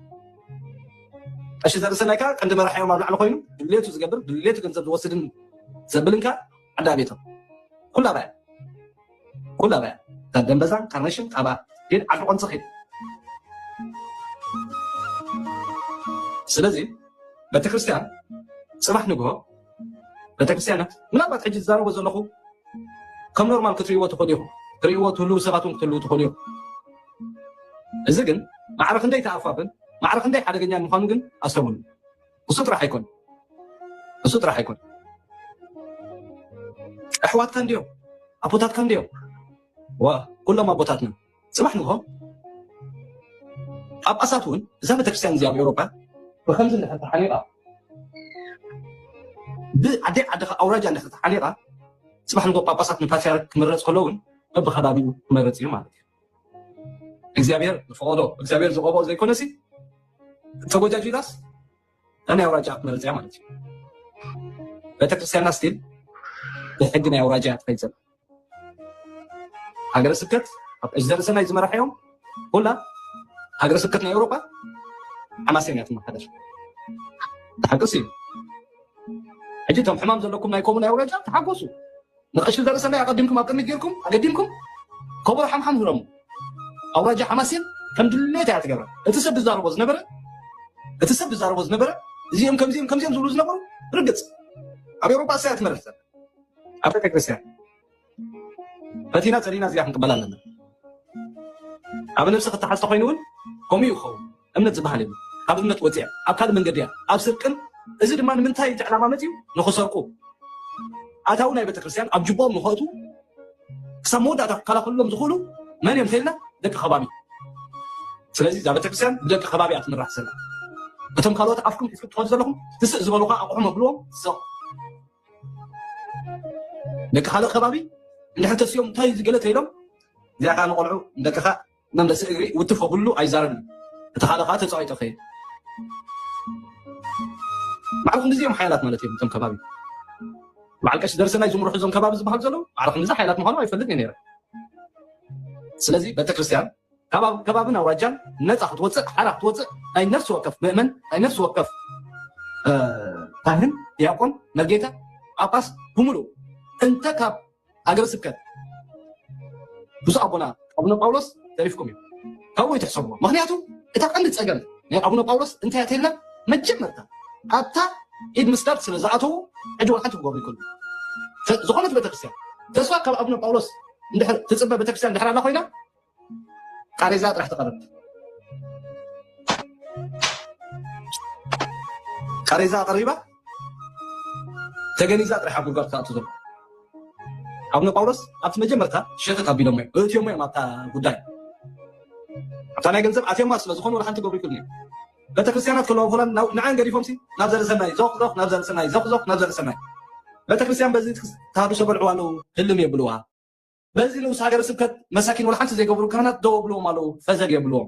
ቀሺ ዘርእሰናይ ከዓ ቀንዲ መራሒኦም ኣብ ላዕሊ ኮይኑ ድሌቱ ዝገብር ድሌቱ ገንዘብ ዝወስድን ዘብልን ከዓ ዓዲ ኣቤቶም ኩላ ባያ ኩላ ባያ ካብ ደንበዛን ካርነሽን ካብ ግን ዓዲ ቆንፂ ኸይድ ስለዚ ቤተክርስትያን ፅባሕ ንግሆ ቤተክርስትያናት ምናልባት ሕጂ ዝዛረቦ ዘለኹ ከም ኖርማል ክትርእይዎ ትኽእሉ ኢኹም ትርእይዎ ትህልዉ ሰባት እውን ክትህልዉ ትኽእሉ ኢኹም እዚ ግን ማዕረ ክንደይ ተኣፋፍን ማዕረ ክንደይ ሓደገኛን ምዃኑ ግን ኣስተውሉ እሱ ጥራሕ ኣይኮን እሱ ጥራሕ ኣይኮን ኣሕዋትካ እንድዮም ኣቦታትካ እንድዮም ዋ ኩሎም ኣቦታትና ጽባሕ ንግሆ ጳጳሳት እውን እዛ ቤተክርስትያን እዚኣ ኣብ ኤውሮጳ ብከምዚ እንድሕር ተሓኒቓ ብዓደ ዓድኻ ኣውራጃ እንድሕር ተሓኒቓ ጽባሕ ንግሆ ጳጳሳት ንፓትሪያርክ ክምረጽ ከሎ እውን በብከባቢኡ ክመርጽ እዩ ማለት እዩ እግዚኣብሔር ዝፈቐዶ እግዚኣብሔር ዝቐብኦ ዘይኮነሲ ተጎጃጁላስ ኣነ ኣውራጃ ክትመርፅ እያ ማለት እዩ ቤተክርስትያና ስቲል ብሕጊ ናይ ኣውራጃ እያ ትኸይድ ዘላ ሃገረ ስብከት ኣብ እጅደርሰናይ ዝመራሐዮም ሁላ ሃገረ ስብከት ናይ ኤውሮጳ ሓማሴን እያ ትመሓደር ተሓቅስ እዩ ሕጂ እቶም ሕማም ዘለኩም ናይ ኮሙን ናይ ኣውራጃ ተሓጎሱ ንቀሺ ዘርእሰናይ ኣቀዲምኩም ኣብ ቅድሚት ጌርኩም ኣገዲምኩም ከበሮ ሓምሓም ህረሙ ኣውራጃ ሓማሴን ከም ድሌት እያ ትገብረ እቲ ሰብ ዝዛረቦ ዝነበረ እቲ ሰብ ዝዛረቦ ዝነበረ እዚኦም ከምዚኦም ከምዚኦም ዝብሉ ዝነበሩ ርግፅ ኣብ ኤውሮጳ እሳያ ትመርሕ ዘለ ኣብ ቤተክርስትያን ፈቲና ፀሊና እዚኣ ክንቅበላ ኣለና ኣብ ነብሲ ክተሓዝ ተኮይኑ እውን ከምኡ ይኸውን እምነት ዝባሃል የብሉን ካብ እምነት ወፂኣ ኣብ ካልእ መንገዲ እያ ኣብ ስርቅን እዚ ድማ ንምንታይ እቲ ዕላማ መፅዩ ንክሰርቁ ኣታዊ ናይ ቤተክርስትያን ኣብ ጅቦኦም ንክእትዉ ክሳብ መወዳእታ ክከላኸልሎም ዝኽእሉ መን እዮም ተይልና ደቂ ከባቢ ስለዚ እዛ ቤተክርስትያን ብደቂ ከባቢ እያ ትምራሕ ዘላ እቶም ካልኦት ኣፍኩም ሒዝኩም ትኸዱ ዘለኹም ትስእ ዝበሉካ ኣቑሑ መብልዎም ሰቕ ደቂ ካልእ ከባቢ እንድሕር ተሲኦም እንታይ ገለ ተይሎም እዚኣ ከዓ ንቆልዑ ንደቅኻ መምለሲ እግሪ ውትፎ ኩሉ ኣይዛረብን እቲ ካልእ ከኣ ተጻዊቶ ከይድ ማዕረ ክንድዚ እዮም ሓያላት ማለት እዮም እቶም ከባቢ በዓል ቀሺ ደርሰናይ ዝምርሑ እዞም ከባቢ ዝበሃሉ ዘለዉ ማዕረ ክንድዚ ሓያላት ምዃኑ ኣይፈልጥ እየ ነይረ ስለዚ ቤተክርስትያን ከባብን ኣውራጃን ነፃ ክትወፅእ ሓራ ክትወፅእ ናይ ነፍሲ ወከፍ ምእመን ናይ ነፍሲ ወከፍ ካህን ዲያቆን መርጌታ ጳጳስ ብምሉእ እንተ ካብ ሃገረ ስብከት ብፁዕ ኣቦና ኣቡነ ጳውሎስ ተሪፍኩም እዩ ካብኡ ይትሕሰብዎ ምክንያቱ እታ ቀንዲ ፀገም ናይ ኣቡነ ጳውሎስ እንታይ እተይልና መጀመርታ ኣብታ ኢድ ምስዳድ ስለ ዝኣተዉ ሕጂ ወልሓንቲ ክገብሩ ይክእሉ ዝኾነት ቤተክርስትያን ተስፋ ካብ ኣቡነ ጳውሎስ እንድሕር ትፅበ ቤተክርስትያን ድሕር ኣላ ኮይና ቃሬዛ ጥራሕ ተቐርብ ቃሬዛ ኣቐሪባ ተገኒዛ ጥራሕ ኣብ ጉድጓድ ክኣቱ ዘሎ ኣቡነ ጳውሎስ ኣብቲ መጀመርታ ሸተት ኣቢሎሞ እዮም እትዮሞ እዮም ኣብታ ጉዳይ ኣብታ ናይ ገንዘብ ኣትዮማ ስለ ዝኾኑ ወላ ሓንቲ ገብሩ ይክእሉ እዮም ቤተክርስትያናት ከለዎ ሆላንድ ንዓን ገዲፎም ሲ ናብ ዘርእሰናይ ዞኽ ዞኽ ናብ ዘርእሰናይ ዞኽ ዞኽ ናብ ዘርእሰናይ ቤተክርስትያን በዚ ተሃድሶ በልዕዋ ኣለዉ ህልም የብልዋ በዚ ንኡስ ሃገረ ስብከት መሳኪን ወላ ሓንቲ ዘይገብሩ ካህናት ደው ኣብልዎም ኣለው ፈዘግ የብልዎም።